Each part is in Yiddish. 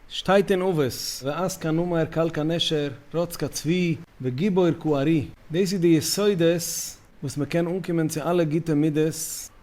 שטייט אין אבות, ועז קן אומר קל קן נשר, רץ קן צבי, וגיבור קו ארי, דאס איז די יסודות וואס מען קען אנקומען צו אלע גוטע מידות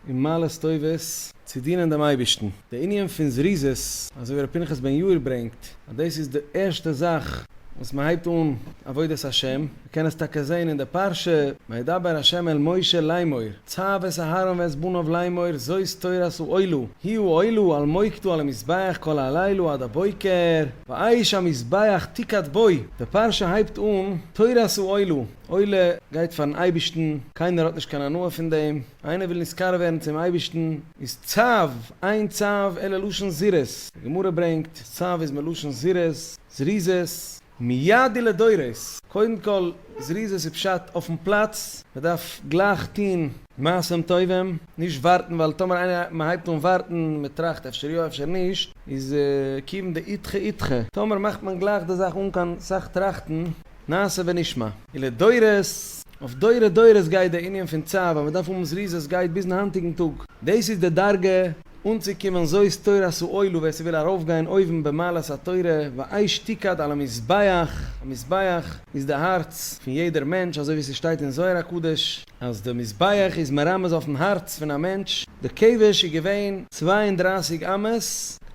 און מעלות טובות צו דינען דעם אייבערשטן. די ענין פון זריזות, אזוי ווי ר' פנחס בן יאיר ברענגט, אז דאס איז די ערשטע זאך וואס מען הייבט אן עבודת השם, מ'קען עס טאקע זעהן אין די פרשה, וידבר ה' אל משה לאמור, צוו את אהרן ואת בניו לאמור, זאת תורת האלו, היו האלו על מוקדו על המזבח כל הלילה עד הבוקר, והאש המזבח תקעד בו, די פרשה הייבט אן, תורת האלו, עולה גייט פארן אייבערשטן, קיינער האט נישט קיין הנאה פון דעם, איינער וויל נזכר ווערן צום אייבערשטן, איז צוו, עיין צוו, עלה לשון זירוז, די גמרא ברענגט, אז צוו איז מלשון זירוז, זריזות. מידי לדורות, קודם כל זריזות איז פשט אויפן פלאץ, מען דארף גלייך טון מעשים טובים, נישט ווארטן ווייל טאמער איינער מען הייבט אן ווארטן, מען טראכט אפשר יא אפשר נישט, איז כיוון דאידחי אידחי, טאמער מאכט מען גלייך די זאך אן קיין סאך טראכטן, נעשה ונשמע. און לדורות, אויף דורי דורות גייט די ענין פון צו, אז מען דארף האבן זריזות גייט ביזן היינטיגן טאג, דאס איז די דרגה אנצוקומען זאת תורת האלו ווער ס'וויל ארויפגיין אויבן במעלת התורה ואי שתיקד על המזבח, א מזבח איז די הארץ פון יעדער מענטש אזוי ווי ס'שטייט אין זוהר הקדוש אז די מזבח איז מרמז אויפן הארץ פון א מענטש, די כבש איז געווען צוויי און דרײַסיק אמות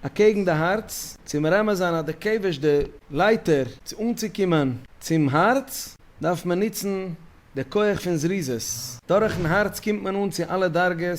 אקעגן די הארץ צו מרמז זיין אז די כבש די לייטער צו אנצוקומען צום הארץ דארף מען נוצן די כח פון זריזות, דורכן הארץ קומט מען אן צו אלע דרגות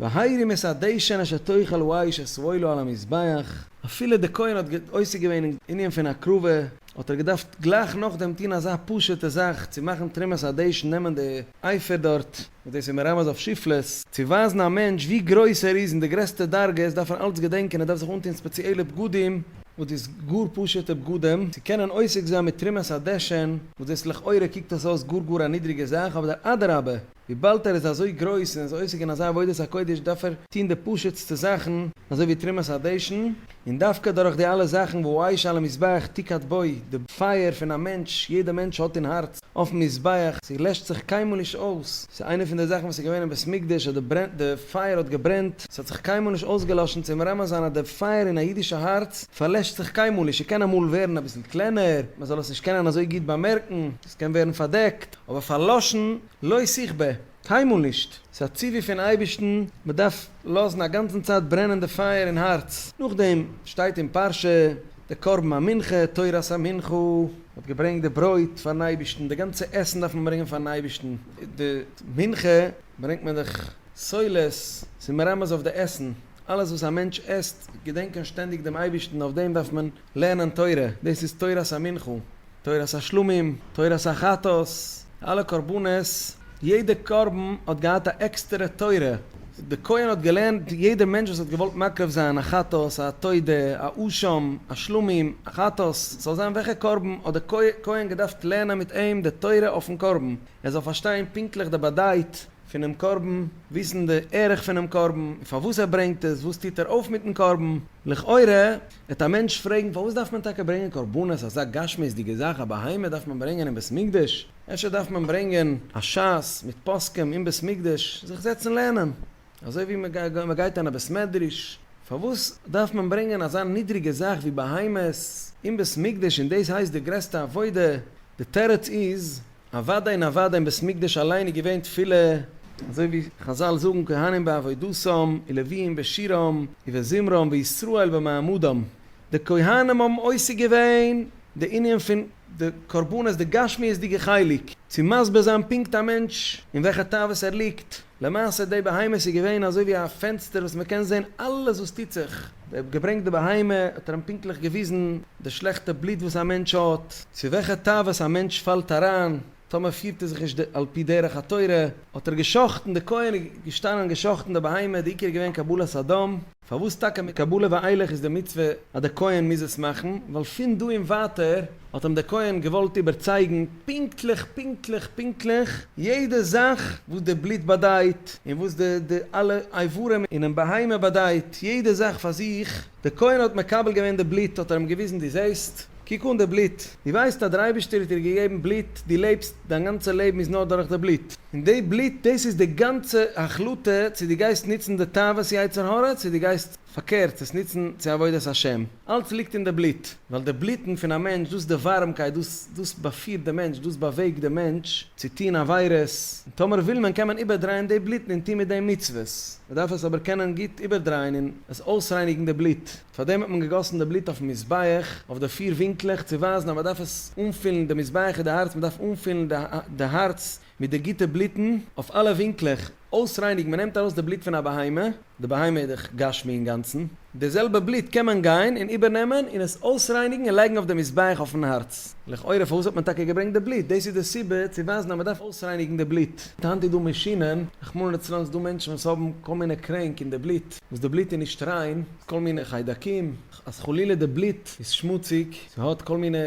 והאירי מסעדיישן אשר תאכל והאיש אסרולו על המזבח, אפילו די כהן האט עוסק געווען אין ענין פון הקרבה, האט ער געדארפט גלייך נאכדעם טון אזא פשוט'ע זאך צו מאכן תרומת הדשן נעמען די אייפער דארט, וואס דאס איז מרמז אויף שפלות, צו ווייזן א מענטש ווי גרויס ער איז און די גרעסטע דרגות דארף ער אלץ געדענקען ער דארף זיך אנטון ספעציעלע בגדים, וואס דאס גאר פשוט'ע בגדים, צו קענען עוסק זיין מיט תרומת הדשן, וואס דאס לכאורה קוקט עס אויס גאר גאר א נידריגע זאך, אבער אדרבה, וויבאלד ער איז אזוי גרויס און איז עוסק אין אזא עבודת הקודש דארף ער טון די פשוט'סטע זאכן אזוי ווי תרומת הדשן, און דווקא דורך די אלע זאכן וואו האיש על המזבח תקהת בו, די פייער פון א מענטש, יעדע מענטש האט אין הארץ, אויפן מזבח, ס'איז לעשט זיך קיינמאל נישט אויס, ס'איז איינע פון די זאכן וואס איז געווען אין בית מקדש אז די ברען די פייער האט געברענט, ס'האט זיך קיינמאל נישט אויסגעלאשן צו מרמז זיין אז די פייער אין א אידישע הארץ פארלעשט זיך קיינמאל נישט, ס'קען אמאל ווערן אביסל קלענער, מ'זאל עס נישט קענען אזוי גוט באמערקן, ס'קען ווערן פארדעקט, אבער פארלאשן לא ישיג ב, קיינמאל נישט. ס'איז א ציווי פון אייבערשטן, מ'דארף לאזן א גאנצן צייט ברענען די פייער אין הארץ. נאכדעם שטייט אין פרשה די קרבן המנחה, תורת המנחה, מ'האט געברענגט די ברויט פארן אייבערשטן, די גאנצע עסן דארף מען ברענגען פארן אייבערשטן, די מנחה ברענגט מען דאך סולת, ס'איז מרמז אויף די עסן, אלעס וואס א מענטש עסט, געדענקען שטענדיג דעם אייבערשטן, אויף דעם דארף מען לערנען תורה, דאס איז תורת המנחה. תורת השלמים, תורת החטאת, אלע קרבנות, יעדע קרבן האט געהאט א עקסטערע תורה, די כהן האט געלערנט יעדע מענטש וואס האט געוואלט מקריב זיין א חטאת, א תודה, א אשם, א שלמים, א חטאת, ס'זאל זיין וועלכע קרבן, האט די כהן געדארפט לערנען מיט אים די תורה אויפן קרבן, ער זאל פארשטיין פונקטליך די באדייט פונעם קרבן, וויסן די ערך פונעם קרבן, פארוואס ער ברענגט עס, וואס טוט ער אויף מיטן קרבן, לכאורה וועט א מענטש פרעגן, פארוואס דארף מען טאקע ברענגען קרבנות, אזא גשמיות'דיגע זאך, א בהמה דארף מען ברענגען אין בית מקדש? אפשר דארף מען ברענגען א ש ס מיט פוסקים אין בית מקדש, זיך זעצן לערנען, אזוי ווי מען גייט אין א בית מדרש, פארוואס דארף מען ברענגען אזא נידריגע זאך ווי בהמות אין בית מקדש און דאס הייסט די גרעסטע עבודה, די תירוץ איז, אוודאי און אוודאי אין בית מקדש אליין איז געווען תפילה. אזוי ווי חזל זאגן כהנים בעבודתם, ולוויים בשירם, ובזמרם, וישראל במעמדם. די כהנים האבן עוסק געווען די ענין פון די קרבנות, די גשמיות'דיגע חלק, צו מסביר זיין פונקט א מענטש אין וועלכע תאוות ער ליגט, למעשה די בהמה איז געווען אזוי ווי א פענסטער וואס מען קען זען אלעס וואס טוט זיך, די האב געברענגט די בהמה האט ער אים פונקטליך געוויזן די שלעכטע בלוט וואס א מענטש האט, צו וועלכע תאוות א מענטש פאלט אריין טאמער פירט ער זיך נישט על פי דרך התורה, האט ער געשחט'ן די כהן איז געשטאנען און געשחט'ן די בהמה, די עיקר איז געווען קבלת אדם. פארוואס טאקע מיט קבלה ואילך איז די מצוה אז די כהן מוז עס מאכן? ווייל פון דא און ווייטער האט אים די כהן געוואלט איבערצייגן פונקטליך פונקטליך פונקטליך יעדע זאך וואס די בלוט באדייט און וואס די די אלע אברים אינעם בהמה באדייט יעדע זאך פאר זיך, די כהן האט מקבל געווען די בלוט האט ער אים געוויזן דו זעסט. קוק אן די בלוט, דו ווייסט אז דער אייבערשטער האט דיר געגעבן בלוט, דו לעבסט, דיין גאנצע לעבן איז נאר דורך די בלוט, און די בלוט דאס איז די גאנצע החלטה צו דו גייסט נוצן די תאוות יצר הרע צו דו גייסט פארקערט עס נוצן צו עבודת השם, אלץ ליגט אין די בלוט, ווייל די בלוטן פון א מענטש דאס די ווארעמקייט דאס דאס באפירט די מענטש, דאס באוועגט די מענטש צו טון עבירות, און טאמער וויל מען קען מען איבערדרייען די בלוטן און טון מיט דעם מצוות, מען דארף עס אבער קענען גוט איבערדרייען און עס אויסרייניגן די בלוט. פאר דעם האט מען געגאסן די בלוט אויפן מזבח, אויף די פיר ווינקלעך, צו ווייזן אז מען דארף עס אנפילן, די מזבח איז די הארץ, מען דארף אנפילן די הארץ מיט די גוטע בלוטן, אויף אלע ווינקלעך, אויסרייניגן, מען נעמט ארויס די בלוט פון א בהמה, די בהמה איז דאך גשמי אינגאנצן, די זעלבע בלוט קען מען גיין און איבערנעמען און עס אויסרייניגן און לייגן אויף די מזבח אויפן הארץ. לכאורה פארוואס האט מען טאקע געברענגט די בלוט? דאס איז די סיבה צו ווייזן אז מען דארף אויסרייניגן די בלוט. היינט איז דא מאשינען, רחמנא לצלן, ס'איז דא מענטשן וואס האבן כל מיני קרענק און די בלוט, וואס די בלוט איז נישט ריין, כל מיני חיידקים, אז חלילה די בלוט איז שמוציג, ס'האט כל מיני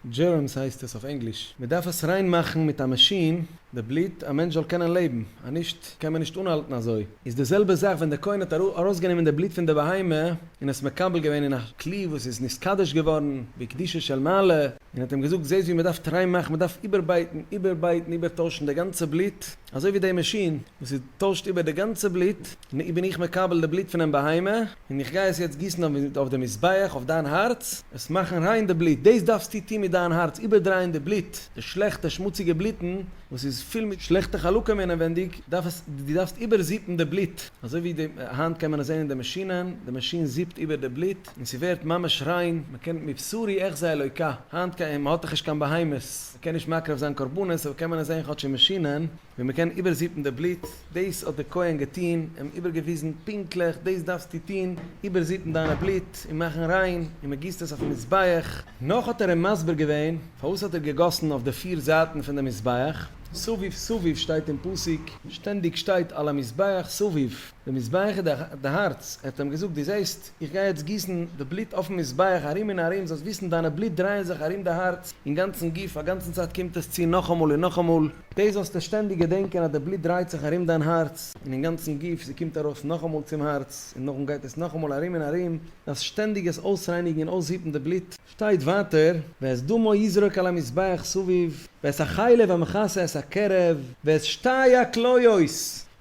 דזשערמס הייסט עס אויף ענגליש, מ'דארף עס ריין מאכן מיט א מאשין, די בלוט, א מענטש זאל קענען לעבן, אז נישט קען מען נישט אנהאלטן אזוי. איז די זעלבע זאך ווען די כהן האט ארויסגענומען די בלוט פון די בהמה און עס מקבל געווען אין א כלי וואס איז נתקדש געווארן בקדושה של מעלה, און האט אים געזאגט, זעסט ווי מ'דארף טריי מאכן, מ'דארף איבערבייטן, איבערבייטן, איבערטוישן די גאנצע בלוט, אזוי ווי די מאשין וואס איז טוישט איבער די גאנצע בלוט, נו בין איך מקבל די בלוט פונעם בהמה, און איך גיי עס יעצט גיסן אויף די מזבח, אויף דיין הארץ, עס מאכן ריין די בלוט, דאס דארפסטו טון מיט דיין הארץ, איבערדרייען די בלוט, די שלעכטע שמוציגע בלוטן וואס איז פול מיט שלעכטע חלקים אינעווענדיג, דארף עס, דו דארפסט איבערזיפן די בלוט, אזוי ווי די, היינט קען מען עס זען אין די מאשינען, די מאשין זיפט איבער די בלוט, און ס'ווערט ממש ריין, מ'קען מבשרי אחזה אלוקה, היינט ק י מ'האט דאך נישט קיין בהמות, מ'קען נישט מקריב זיין קרבנות, אבער קען מען עס זען כאטש אין מאשינען, ווי מ'קען איבערזיפן די בלוט, דאס האט די כהן געטוהן, אים איבערגעוויזן פונקטליך, דאס דארפסטו טוהן, איבערזיפן דיינע בלוט, און מאכן ריין, און מ'גיסט עס אויפן מזבח. נאך האט ער אים מסביר געווען, פארוואס האט ער געגאסן אויף די פיר זייטן פון די מזבח, סביב סביב שטייט אין פסוק, שטענדיג שטייט על המזבח סביב, די מזבח איז די הארץ, ער האט אים געזאגט, דו זעהסט, איך גיי יעצט גיסן די בלוט אויפן מזבח ארום און ארום, זאלסט וויסן דיינע בלוט דרייען זיך ארום די הארץ און גאנצן גוף, א גאנצן צייט קומט עס צו נאכאמאל און נאכאמאל, דאס זאלסטו שטענדיג געדענקען אז די בלוט דרייט זיך ארום דיין הארץ און אין גאנצן גוף, זי קומט ארויס נאכאמאל צום הארץ און נאכדעם גייט עס נאכאמאל ארום און ארום, דארפסט שטענדיג עס אויסרייניגן און אויסהיטן די בלוט. שטייט ווייטער, ואת דמו יזרוק על המזבח סביב, ואת החלב המכסה את הקרב, ואת שתי הכליות,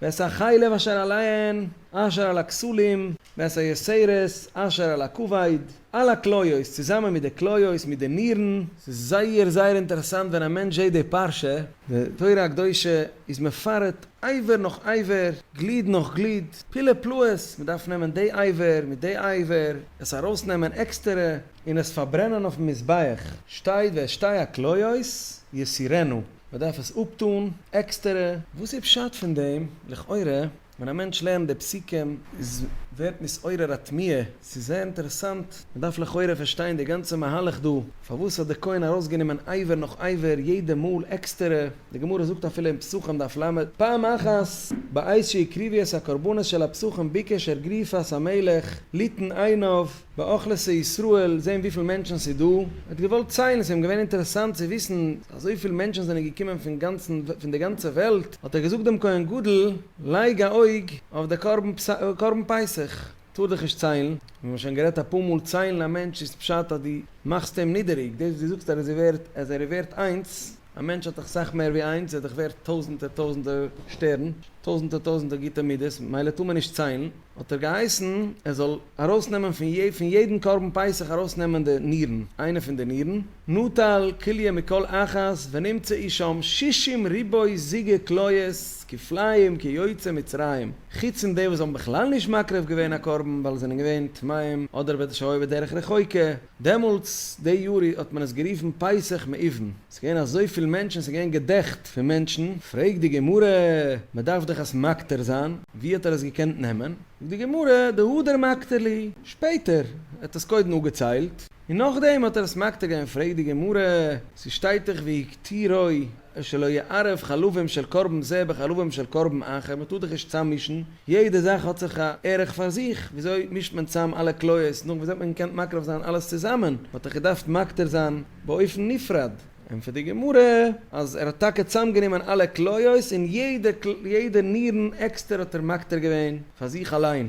ואת החלב אשר עליהן, אשר על הכסלים, וועס ע שערות אשר על הכבד, אלע כליות צוזאמען מיט די כליות מיט די נירן. ס'איז זייער זייער אינטערעסאנט ווען א מענטש זעהט די פרשה. די תורה הקדושה איז מפרט אייווער נאך אייווער, גליד נאך גליד, פילע פלאות, מ'דארף נעמען די אייווער מיט די אייווער, עס ארויסנעמען עקסטערע, און עס פארברענען אויפן מזבח, שטייט ואשתי הכליות יסירנו, מ'דארף עס אפטון עקסטערע, וואס איז פשט פון דעם? לכאורה. ווען א מענטש לערנט די פסוקים איז ווערט נתעורר א תמיהה, ס'איז זייער אינטערעסאנט, מ'דארף לכאורה פארשטיין די גאנצע מהלך דא, פארוואס האט די כהן ארויסגענומען אייווער נאך אייווער יעדע מאל עקסטערע, די גמרא זאגט אפילו אין פסחים דף ל, פעם אחת בעת שהקריב את הקרבנות של הפסחים ביקש ער גריפת המלך ליתן עיניו, באכלעסע ישראל זעהן וויפיל מענטשן ס'איז דא, ער האט געוואלט ציילן, ס'איז אים געווען אינטערעסאנט צו וויסן אז אזויפיל מענטשן זענען געקומען פון גאנצן פון די גאנצע וועלט, האט ער געזאגט דעם כהן גדול, לייג א אויג אויף די קרבן קרבן פסח, טאר דיך נישט ציילן, מיר האבן שוין גערעדט אפאר מאל, ציילן א מענטש איז פשט אז דו מאכסט אים נידעריג, דאס וואס דו זאגסט אז ער איז ווערט אז ער איז ווערט איינס, א מענטש האט דאך סאך מער ווי איינס, ער איז דאך ווערט טויזענטער טויזענטער שטערן, טויזענטער טויזענטער גוטע מידות, מילא טאר מען נישט ציילן. האט ער געהייסן ער זאל ארויסנעמען פון יע פון יעדן קרבן פסח ארויסנעמען די נירן, איינע פון די נירן, נטל כליה מכל אחת ונמצא איש שם שישים ריבוי זיגה כליות כפליים כיוצא מצרים, חוץ פון די וואס האבן בכלל נישט מקריב געווען א קרבן ווייל זענען געווען טמאים אדער בדרך רחוקה. דעמאלטס די יאר האט מען עס גערופן פסח מאיבן, עס איז געווען אזויפיל מענטשן, עס איז געווען געדעכט פון מענטשן, פרעגט די גמרא, מען דארף דאך עס מקטיר זיין, ווי האט ער עס געקענט נעמען? זאגט די גמרא, די הדר מקטיר לי, שפעטער, ער האט עס קודם אפגעציילט, און נאכדעם האט ער עס מקטיר געווען, פרעגט די גמרא, ס'שטייט דאך והקטירו. שלא יערב חלבים של קרבן זה בחלבים של קרבן אחר, מ'טאר זיך נישט צאממישן, יעדע זאך האט זיך א ערך פאר זיך, וויאזוי מישט מען צאם אלע כליות, נאך וואס האט מען געקענט מקריב זיין אלעס צוזאמען, מ'האט דאך געדארפט מקטיר זיין באופן נפרד, ענטפערט די גמרא אז ער האט טאקע צאם גענומען אלע כליות און יעדע יעדע נירן עקסטער האט ער מקטיר געווען פאר זיך אליין.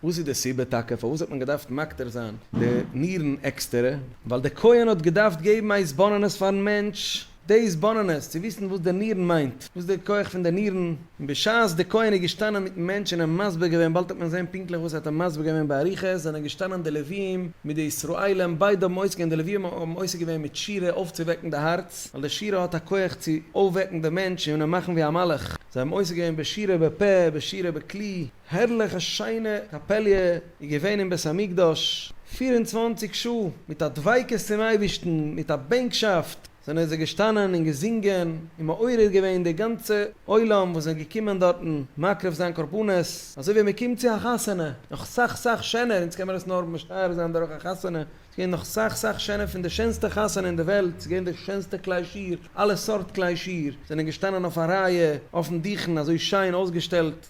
וואס איז די סיבה טאקע פארוואס האט מען געדארפט מקטיר זיין די נירן עקסטערע? ווייל דער כהן האט געדארפט געבן א התבוננות פארן מענטש, די התבוננות צו וויסן וואס די נירן מיינט, וואס די כח פון די נירן, און בשעת די כהן איז געשטאנען מיטן מענטש און אים מסביר געווען, באלד האט מען געזען פונקטליך וואס ער האט אים מסביר געווען באריכות, זענען געשטאנען די לוויים מיט די ישראלים, ביידע האבן אויס געווען, די לוויים האבן עוסק געווען מיט שירה אויפצואוועקן די הארץ, ווייל די שירה האט א כח צו אויפוועקן די מענטש און אים מאכן ווי א מלאך, זיי האבן עוסק געווען בשירה בפה, בשירה בכלי, הערליך א שיינע קאפעליע איז געווען אין בית המקדש, פֿיר און צוואַנציק שעה מיט א דביקות צום אייבערשטן, מיט א בענקשאפט זענען זיי געשטאנען און געזינגען און מעורר געווען די גאנצע עולם וואס זענען געקומען דארטן מקריב זיין קרבנות, אזוי ווי מען קומט צו א חתונה, נאך סאך סאך שענער, אונז קען מען עס נאר משער זיין דורך א חתונה, ס'איז געווען נאך סאך סאך שענער פון די שענסטע חתונה אין די וועלט, ס'איז געווען די שענסטע כלי שיר, אלע סארט כלי שיר זענען געשטאנען אויף א רייע, אויפן דוכן אזוי שיין אויסגעשטעלט.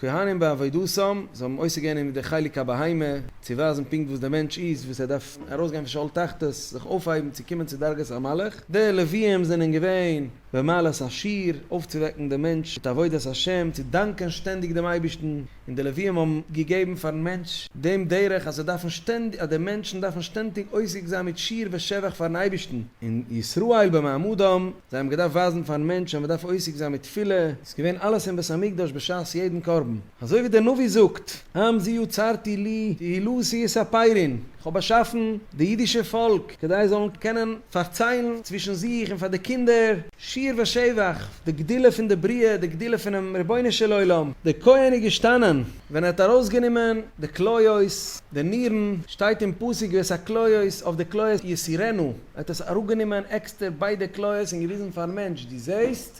כהנים בעבודתם, זיי האבן עוסק געווען אין די חלק הבהמה, צו ווייזן פונקט וואס דער מענטש איז, וואס ער דארף ארויסגיין פון שאול תחתית, זיך אויפהייבן צו קומען צו דרגת המלאך, די לוויים זענען געווען במעלת השיר, אויפצואוועקן דעם מענטש מיט עבודת השם, צו דאנקען שטענדיג דעם אייבערשטן, און די לוויים האבן געגעבן פאר'ן מענטש דעם דרך אז זיי דארפן שטענדיג, אז די מענטשן דארפן שטענטיג עוסק זיין מיט שיר ושבח פאר'ן אייבערשטן, און ישראל במעמדם, זיי האבן געדארפט ווייזן פאר'ן מענטש אז מען דארף עוסק זיין מיט תפילה, איז געווען אלעס אין בית המקדש בשעת יעדן קרבן, אזוי ווי דער נביא זאגט, עם ז יצרתי לי תהילו שיעס אפיירין, איך האב באשאפן די אידישע פאלק כדי זיי זאלן קענען פארציילן צווישן זיך און פאר די קינדער, שיר ושבח, די גדולה פון די בריאה, די גדולה פונעם רבונו של עולם. דער כהן איז געשטאנען ווען ער האט ארויסגענומען די כליות, די נירן, שטייט אין פסוק ואת הכליות, אויף די כליות יסירנו, ער האט עס אראפגענומען עקסטער ביידע כליות און געוויזן פארן מענטש, דו זעסט?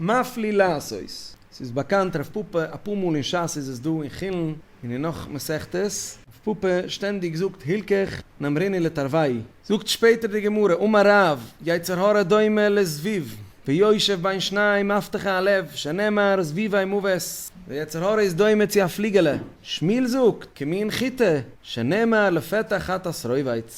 מפליא לעשות. ס'איז באקאנט רב פפא אפאר מאל אין שס איז עס דא אין חולין און אין נאך מסכתות. רב פפא שטענדיג זאגט הילקח נאמריני לתרווי'. זאגט שפעטער די גמרא אמר רב, יצר הרע דומה לזבוב ויושב בין שניי מפתחה הלב שנאמר זבובי מוות, דער יצר הרע איז דומה צו א פליגעלע, שמואל זאגט, כמין חיטה, שנאמר לפתח חטאת רויבית.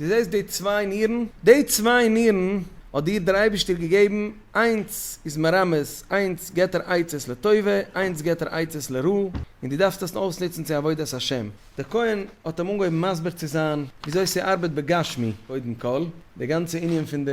דו זעסט די צוויי נירן? די צוויי נירן האט דיר דער אייבערשטער געגעבן, איינס איז מרמז, איינס געבט ער עצות לטובה, איינס געבט ער עצות לרע, און דו דארפסט עס אויסנוצן צו עבודת השם. דער כהן האט אים אנגעהויבן מסביר צו זיין וויאזוי ס'ארבעט בגשמי, קודם כל, די גאנצע ענין פון די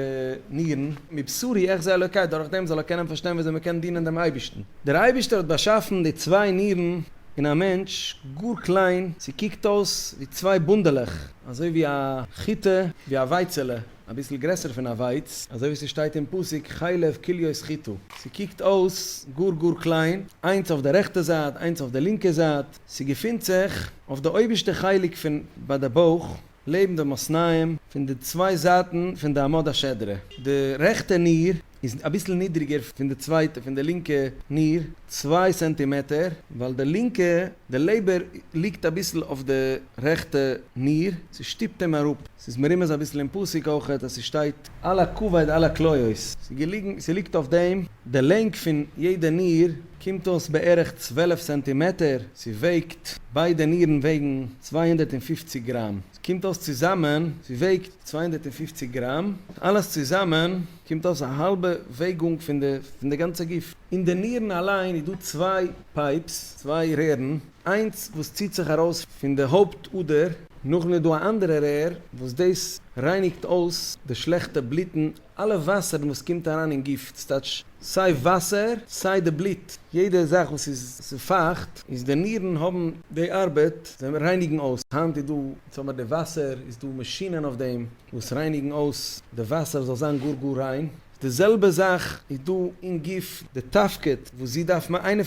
נירן, מבשרי אחזה אלוקי, דורך דעם זאל ער קענען פארשטיין וויאזוי מען קען דינען דעם אייבערשטן. דער אייבערשטער האט באשאפן די צוויי נירן אין א מענטש, גאר קליין, ס'קוקט אויס ווי צוויי בונדעלעך, אזוי ווי א חיטה, ווי א ווייצעלע, אביסל גרעסער פון א ווייץ, אזוי ווי ס'שטייט אין פסוק חלב כליות חיטה, ס'קוקט אויס גאר גאר קליין, איינס אויף די רעכטע זייט, איינס אויף די לינקע זייט, ס'געפינט זיך אויף די אויבערשטע חלק פון ביי די בויך, לעבן די מאסניים, פון די צוויי זייטן פון די עמוד השדרה, די רעכטע ניר איז אביסל נידריגער פון די צווייטע פון די לינקע ניר, צוויי סענטימעטער, ווייל די לינקע די לעבער ליגט אביסל אויף די רעכטע ניר, ס'שטופט אים אראפ, ס'איז מרומז אביסל אין פסוק אויכעט אז ס'שטייט על הכבד על הכליות, ס'געליגן ס'ליגט אויף דעם, די לענג פון יעדע ניר קומט אויס בערך צוועלף סענטימעטער, ס'וועגט ביידע נירן וועגן צוויי הונדערט און פֿופֿציק גראם, ס'קומט אויס צוזאמען ס'וועגט צוויי הונדערט און פֿופֿציק גראם, אלעס צוזאמען קומט אויס א האלבע וועגונג פון די גאנצע גוף. אין די נירן אליין איז דא צוויי פייפס, צוויי רערן, איינס וואס ציט זיך ארויס פון די הויפט אדער, נאכדעם איז דא א אנדערע רער וואס דאס רייניגט אויס די שלעכטע בלוטן, אלע וואסערן וואס קומט אריין אין גוף, ס'טייטש סיי וואסער סיי די בלוט, יעדע זאך וואס איז פייכט איז די נירן האבן די ארבעט, זיי רייניגן אויס, היינט איז דא, זאג מיר די וואסער, איז דא מאשינען אויף דעם, וואס רייניגן אויס די וואסער זאל זיין גאר גאר ריין, די זעלבע זאך איז דא אין גוף, די תפקיד וואס זי דארף מאכן, איינע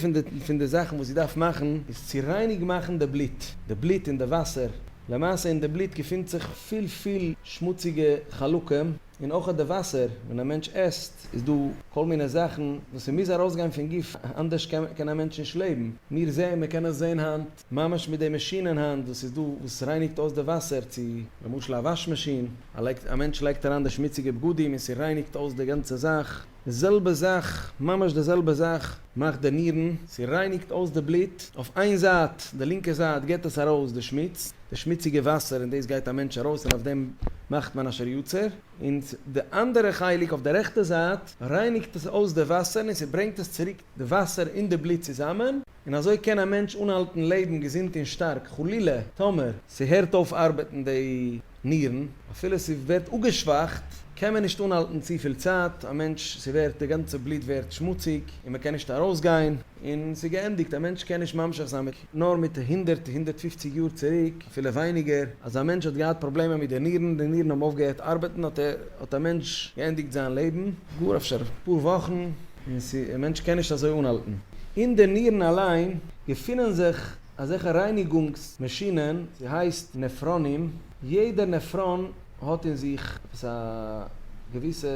פון די זאכן וואס זי דארף מאכן איז צו רייניג מאכן די בלוט, די בלוט און די וואסער, למעשה אין די בלוט געפינט זיך פיל פיל שמוציגע חלקים, און אויך די וואסער, ווען א מענטש עסט איז דא כל מיני זאכן וואס ס'מוז ארויסגיין פון גוף, אנדערש קען א מענטש נישט לעבן, מיר זעען, מ'קען עס זען היינט, ממש מיט די מאשין אין האנט וואס איז דא וואס רייניגט אויס די וואסער צו. למשל א וואש מאשין, א מענטש לייגט אריין די שמוציגע בגדים און ס'רייניגט אויס די גאנצע זאך. די זעלבע זאך, ממש די זעלבע זאך מאכט די נירן. ס'רייניגט אויס די בלוט אויף איין זייט, די לינקע זייט געט עס ארויס די שמוץ, די שמוציגע וואסער און דאס גייט א מענטש ארויס און אויף דעם מאכט מען אשר יצר. און די אנדערע חלק אויף די רעכטע זייט רייניגט עס אויס די וואסער און ס'ברענגט עס צוריק די וואסער און די בלוט צוזאמען. און אזוי קען א מענטש אנהאלטן לעבן געזונט און שטארק, חלילה טאמער. ס'הערט אויף ארבעטן די נירן, אפילו ס'ווערט אפגעשוואכט, קען מען נישט אנהאלטן צופיל צייט, א מענטש, ס'ווערט, די גאנצע בלוט ווערט שמוציג, און מ'קען נישט ארויסגיין, און ס'איז געענדיגט, א מענטש קען נישט ממשיך זיין מיט, נאר מיט הונדערט, הונדערט פופציג יאר צוריק, אפילו ווייניגער, אז א מענטש האט געהאט פראבלעמען מיט די נירן, די נירן האבן אויפגעהערט ארבעטן, האט א מענטש געענדיגט זיין לעבן, גאר אפשר אפאר וואכן. און ס'איז א מענטש קען נישט אזוי אנהאלטן אין די נירן אליין געפינען זיך אזעלכע רייניגונגס מאשינען ס'הייסט נעפראנים יעדע נעפראן האט אין זיך עפעס א געוויסע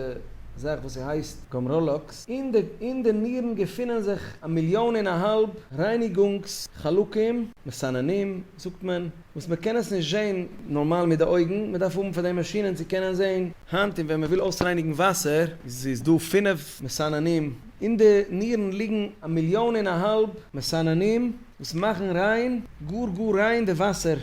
זאך וואס ס'הייסט גאמראלאקס אין די אין די נירן געפינען זיך א מיליאן און א האלב רייניגונגס חלקים מסננים זאגט מען וואס מען קען עס נישט זעהן נארמאל מיט די אויגן, מען דארף האבן פאר דעם מאשינען צו קענען זעהן. היינט און ווען מען וויל אויסרייניגן וואסער איז דא פֿינף מסננים, אין די נירן ליגן א מיליאן און א האלב מסננים וואס מאכן ריין, גאר גאר ריין די וואסער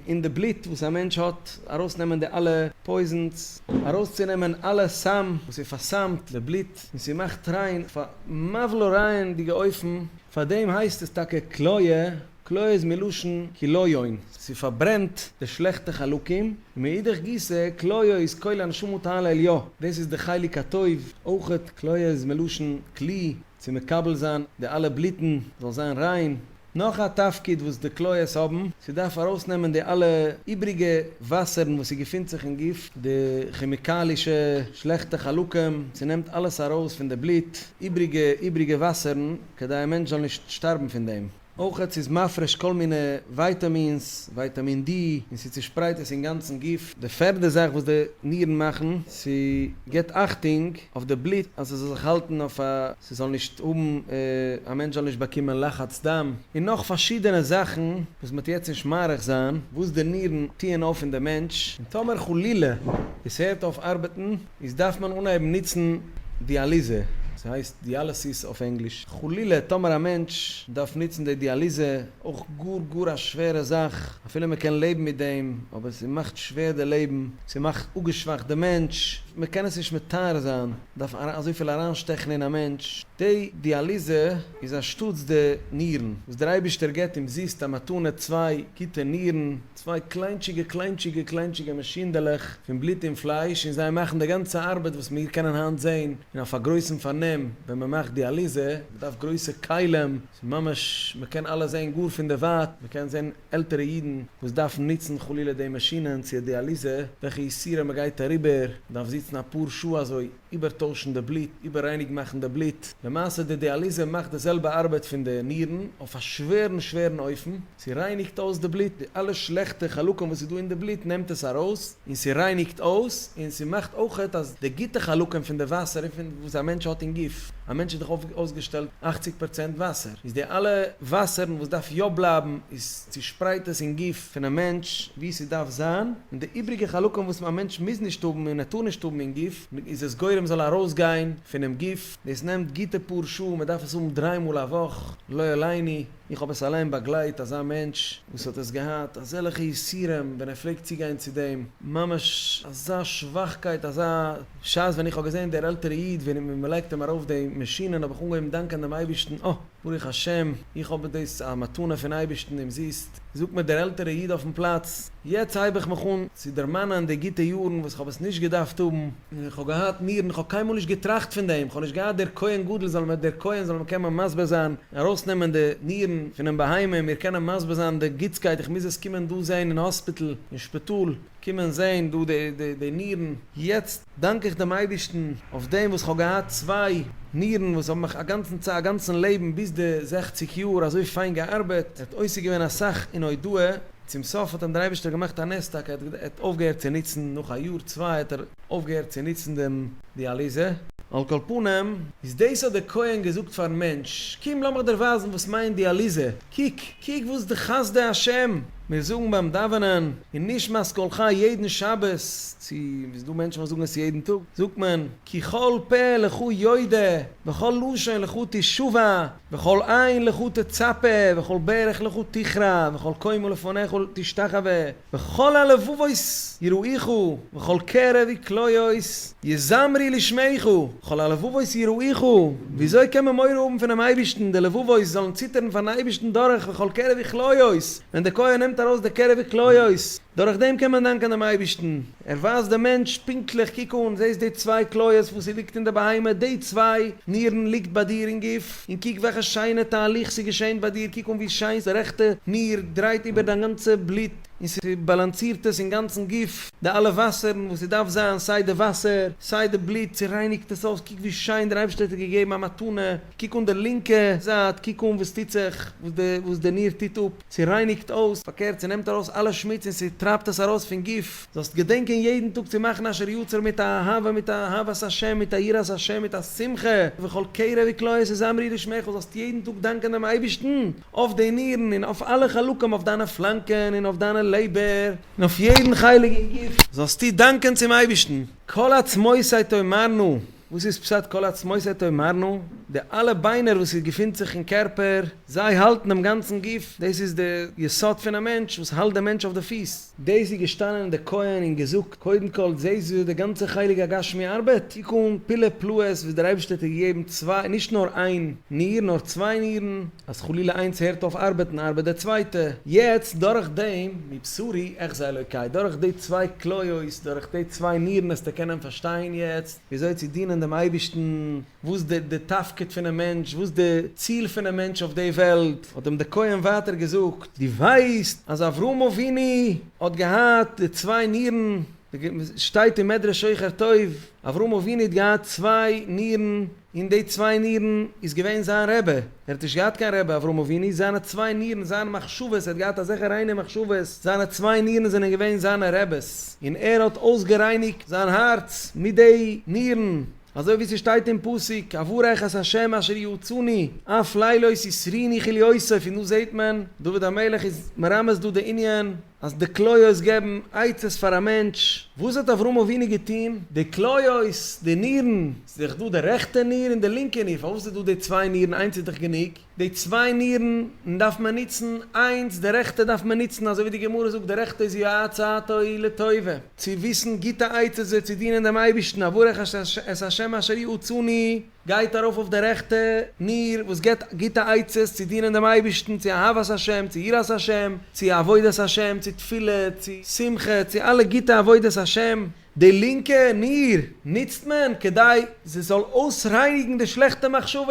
און די בלוט וואס א מענטש האט, ארויסנעמען די אלע פויזענס, ארויסצונעמען אלע סם וואס איז פארסמט די בלוט, און ס'מאכט ריין, פאר מבלע ריין דיגע אופן, פאר דעם הייסט עס טאקע כליה. כלא איז מלשון כליון, ס'פארברענט די שלעכטע חלקים, און מאידך גיסא כליו איז כולל הנשמות העל העליו, דאס איז די חלק הטוב, אויכעט כליו איז מלשון כלי, צו מקבל זיין די אלע בלוטן זאל זיין ריין, נאך א תפקיד וואס די כליות האבן, ס'דארף ארויסנעמען די אלע איבריגע וואסערן וואס ס'געפינט זיך אין גוף, די כעמיקאלישע שלעכטע חלקים, ס'נעמט אלעס ארויס פון די בלוט, איבריגע איבריגע וואסערן, כדי א מענטש זאל נישט שטארבן פון דעם. אויך ס'איז מפריש כל מיני ווייטאמינס, ווייטאמין די, און ס'צושפרייט עס אין גאנצן גוף. די פערדע זאך וואס די נירן מאכן, ס'געט אכטונג אויף די בלוט אז ס'זאל זיך האלטן אויף א, ס'זאל נישט האבן, א מענטש זאל נישט באקומען לחץ דם, און נאך פארשידענע זאכן וואס מ'האט יעצט נישט מאריך זיין, וואס די נירן טוען אויף אין די מענטש, און טאמער חלילה עס הערט אויף ארבעטן, איז דארף מען אנהייבן ניצן דיאליזע, ס'הייסט דיאלעסיס אויף ענגליש, חלילה טאמער א מענטש דארף ניצן די דיאליזע, אויך גאר גאר א שווערע זאך, אפילו מען קען לעבן מיט דעם, אבער ס'מאכט שווער די לעבן, ס'מאכט אפגעשוואכט די מענטש, מען קען עס נישט מתאר זיין, דארף אזויפיל אריינשטעכן אין א מענטש, די דיאליזע איז אנשטאטס די נירן וואס דער אייבישטער געבט אומזיסט א מתנה צוויי גוטע נירן, צוויי קליינטשיגע קליינטשיגע קליינטשיגע מאשינדעלעך פון בלוט און פלייש און זיי מאכן די גאנצע ארבעט וואס מיר קענען היינט זען און אויף א גרויסן פארנעם ווען מען מאכט דיאליזע, מען דארף גרויסע כלים, ס'איז ממש מען קען אלעס זען גאר פון דערווייט, מען קען זען עלטערע אידן וואס דארפן נוצן חלילה די מאשינען צו דיאליזע, וועלכע יסורים מען גייט אריבער, מען דארף זיצן אפאר שעה אזוי, איבערטוישן די בלוט, איבעררייניג מאכן די בלוט, למעשה די דיאליזע מאכט די זעלבע ארבעט פון די נירן אויף א שווערן שווערן אופן. ס'רייניגט אויס די בלוט, די אלע שלעכטע חלקים וואס איז דא אין די בלוט נעמט עס ארויס, און ס'רייניגט אויס, און ס'מאכט אויכעט אז די גוטע חלקים פון די וואסער און פון וואס א מענטש האט אין גוף, א מענטש איז דאך אויסגעשטעלט אכציג פארצענט וואסער, איז די אלע וואסערן וואס דארף יא בלייבן איז צושפרייט עס אין גוף פון א מענטש ווי ס'דארף זיין, און די איבריגע חלקים וואס א מענטש מוז נישט האבן און ער טאר נישט האבן אין גוף איז עס גורם זאל ארויסגיין פונעם גוף, דאס נעמט גוטע פאר שעה, מ'דארף עס האבן דריי מאל א וואך, לא עליני. איך האב עס אליין באגלייט אזא מענטש וואס האט עס געהאט אזעלעכע יסורים ווען ער פלעגט צוגיין צו דעם, ממש אזא שוואכקייט אזא שעת ווען איך האב געזען דער עלטערע איד ווען מען לייגט אים ארויף די מאשינען האב איך אנגעהויבן דאנקען דעם אייבערשטן אה ברוך השם איך האב דאס א מתנה פון אייבערשטן אומזיסט, זאגט מיר דער עלטערע איד אויפן פלאץ, יעצט הייב איך מיך אן צו דערמאנען די גוטע יארן וואס איך האב עס נישט געדארפט האבן, און איך האב געהאט נירן איך האב קיינמאל נישט געטראכט פון דעם איך האב נישט געהאט דער כהן גדול זאל מיר דער כהן זאל מיר קען מיר מסביר זיין ארויסנעמען די נירן פונעם בהמה מיר קענען מסביר זיין די גוטסקייט איך מוז עס קומען דא זעהן אין האספיטל אין שפיטאל קומען זעהן דא די די די נירן יעצט דאנק איך דעם אייבערשטן אויף דעם וואס כ'האב געהאט צוויי נירן וואס האבן מיך א גאנצן צייט א גאנצן לעבן ביז די זעכציק יאר אזוי פיין געארבעט ער האט עוסק געווען אסאך אין הודאה צום סוף האט אים דער אייבערשטער געמאכט א נס טאקע ער האט אויפגעהערט צו נוצן נאך א יאר צוויי האט ער אויפגעהערט צו נוצן דעם דיאליזע? על כל פנים. איז דאס האט דער כהן געזאגט פארן מענטש, קום לאמיך דיר ווייזן וואס מיינט דיאליזע, קוק, קוק וואס די חסדי השם מיר זאגן ביים דאווענען אין נשמת כל חי יעדן שבת, צו איז דא מענטשן וואס זאגן עס יעדן טאג, זאגט מען, כי כל פה לך יודע, וכל לשון לך תשובע, וכל עין לך תצפה, וכל ברך לך תכרע, וכל קומה לפניך תשתחווה. וכל הלבבות יראיכו וכל קרבי כליות יזמרי לשמיכו, כל הלבבות יראיכו, וויאזוי קען מען מורא האבן פונעם אייבערשטן, די לבבות זאלן ציטערן פארן אייבערשטן דורך וכל קרבי כליות, ווען די כהן נעמט ארויס די קרבי כליות, דורכדעם קען מען דאנקען דעם אייבערשטן. ער ווייזט דעם מענטש פונקטליך, קוק אן, זעסט די צוויי כליות וואס ס'איז ליגט אין די בהמה, די צוויי נירן ליגט ביי דיר אין גוף, און קוק וועלכע שיינע תהליך ס'איז געשען ביי דיר, קוק אן ווי שיין די רעכטע ניר דרייט איבער דיין גאנצע בלוט, און ס'באלאנסירט עס אינגאנצן גוף, די אלע וואסערן וואס ס'דארף זיין, סיי די וואסער, סיי די בלוט, ס'רייניגט עס אויס, קוק ווי שיין דער אייבערשטער האט דיר געגעבן א מתנה, קוק אן די לינקע זייט, קוק אן וואס טוט זיך, וואס די ניר טוט אפ. ס'רייניגט אויס. פארקערט, ס'נעמט ארויס אלע שמוץ און ס'טרייבט עס ארויס פון גוף. זאלסט געדענקען יעדן טאג צו מאכן אשר יצר מיט א אהבה, מיט א אהבת השם, מיט א יראת השם, מיט א שמחה, וכל קרע וקלויעס יזמרי לשמך, זאלסט יעדן טאג דאנקען דעם אייבערשטן אויף די נירן און אויף אלע חלקים, אויף דיינע פלאנקען און אויף דיינע לעבער, און אויף יעדן חלק אין גוף. זאלסטו דאנקען צום אייבערשטן. כל עצמותיי תאמרנה, וואס איז פשט כל עצמות את תאמרנה? די אלע ביינער וואס איז געפינט זיך אין קערפער, זיי האלטן דעם גאנצן גוף, דאס איז די יסוד פון א מענטש וואס האלט דעם מענטש אויף די פיס. דאס איז געשטאנען דער כהן און געזאגט, קודם כל זעסט וויאזוי די גאנצע חלק הגשמי ארבעט? קוק אן פלא פלאות וואס דער אייבערשטער האט געגעבן צוויי, נישט נאר איין, ניר, נאר צוויי נירן. אז חלילה איינס הערט אויף ארבעטן ארבעט די צווייטע. יעצט דורך דעם, מבשרי אחזה אלוקי, דורך די צוויי כליות, דורך די צוויי נירן העסטו קענען פארשטיין יעצט וויאזוי צו דינען דעם אייבערשטן, וואס די די תפקיד פונעם מענטש, וואס די ציל פונעם מענטש אויף די וועלט, האט אים די כהן ווייטער געזאגט, דו ווייסט אז אברהם אבינו האט געהאט די צוויי נירן? שטייט אין מדרש שוחר טוב, אברהם אבינו האט געהאט צוויי נירן, און די צוויי נירן איז געווען זיין רבי, ער האט נישט געהאט קיין רבי אברהם אבינו, זיינע צוויי נירן, זיינע מחשבות, ער האט געהאט אזעלכע ריינע מחשבות, זיינע צוויי נירן זענען געווען זיינע רבי'ס, און ער האט אויסגערייניגט זיין הארץ מיט די נירן, אזוי ווי ס'שטייט אין פסוק, אברך את ה' אשר יעוצני, אף לילות יסריני כליוסף, און דא זעהט מען, דוד המלך איז מרמז דא די ענין, אז די כליות געבן עצות פאר א מענטש, וואס האט אברהם אבינו געטון? די כליות, די נירן, ס'איז דאך דא די רעכטע ניר און די לינקע ניר, פארוואס איז דא די צוויי נירן, איינס איז דאך גענוג, די צוויי נירן דארף מען נוצן איינס, די רעכטע דארף מען נוצן, אזוי ווי די גמרא זאגט, די רעכטע איז יו א עצתו היא לטובה, צו וויסן גוטע עצות ווי צו דינען דעם אייבערשטן, אברך את ה' אשר יעצני, גייט ארויף אויף די רעכטע ניר וואס געבט גוטע עצות צו דינען דעם אייבערשטן, צו אהבת השם, צו יראת השם, צו עבודת השם, צו תפילה, צו שמחה, צו אלע גוטע עבודת השם. די לינקע ניר נוצט מען כדי זי זאל אויסרייניגן די שלעכטע מחשבות,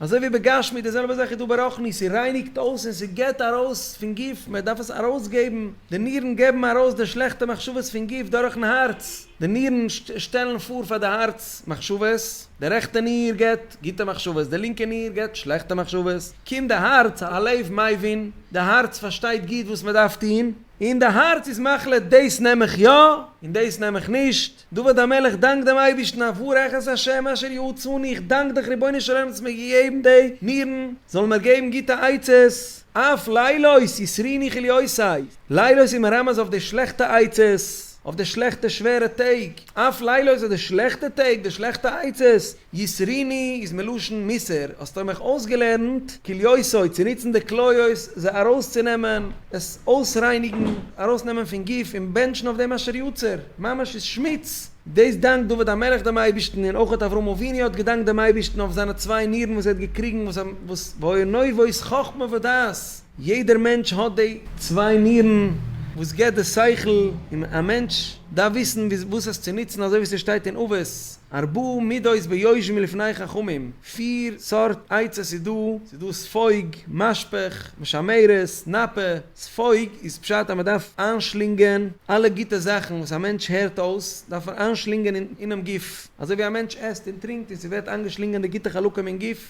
אזוי ווי בגשמי די זעלבע זאך איז דא ברוחני, ס'רייניגט אויס און ס'געבט ארויס פון גוף, מען דארף עס ארויסגעבן, די נירן געבן ארויס די שלעכטע מחשבות פון גוף דורכ'ן הארץ. די נירן שטעלן פאר פאר די הארץ מחשבות, די רעכטע ניר געבט גוטע מחשבות, די לינקע ניר געבט שלעכטע מחשבות, קומט די הארץ, הלב מבין, די הארץ פארשטייט גוט וואס מען דארף טון, און די הארץ איז מחליט דאס נעם איך יא, און דאס נעם איך נישט, דוד המלך דאנקט דעם אייבערשטן אברך את השם אשר יעצני, איך דאנק דיך רבונו של עולם האסט מיר געגעבן די נירן, זאלן מיר געבן גוטע עצות, אף לילות יסריני כליותיי, לילות איז מרמז אויף די שלעכטע עצות. אויף די שלעכטע שווערע טעג, אף לילותא די שלעכטע טעג, די שלעכטע עצות, יסריני איז מלשון מיסר, האסטו מיך אויסגעלערנט, כליותו צו נוצן די כליות זיי ארויסצונעמען, עס אויסרייניגן, ארויסנעמען פון גוף און בענטשן אויף דעם אשר יצר, ממש איז שמוץ. דאס דאנקט דוד המלך דעם אייבערשטן, און אויך האט אברהם אבינו האט געדאנקט דעם אייבערשטן אויף זיינע צוויי נירן וואס ער האט געקריגן, וואס וואס והוי נובע איז חכמה ודעת, יעדער מענטש האט די צוויי נירן וואס געבט די שכל, און א מענטש דארף וויסן וואס עס צו נוצן, אזוי ווי ס'שטייט אין אבות, ארבעה מידות ביושבים מלפני חכמים, פיר סארט עצות איז דא, ס'איז דא ספוג, משפך, משמרת, נאפה, ספוג איז פשט אז מען דארף איינשלינגען אלע גוטע זאכן וואס א מענטש הערט אויס, דארף ער איינשלינגען אינעם גוף, אזוי ווי א מענטש עסט און טרינקט און ס'ווערט איינגעשלינגען די גוטע חלקים אין גוף,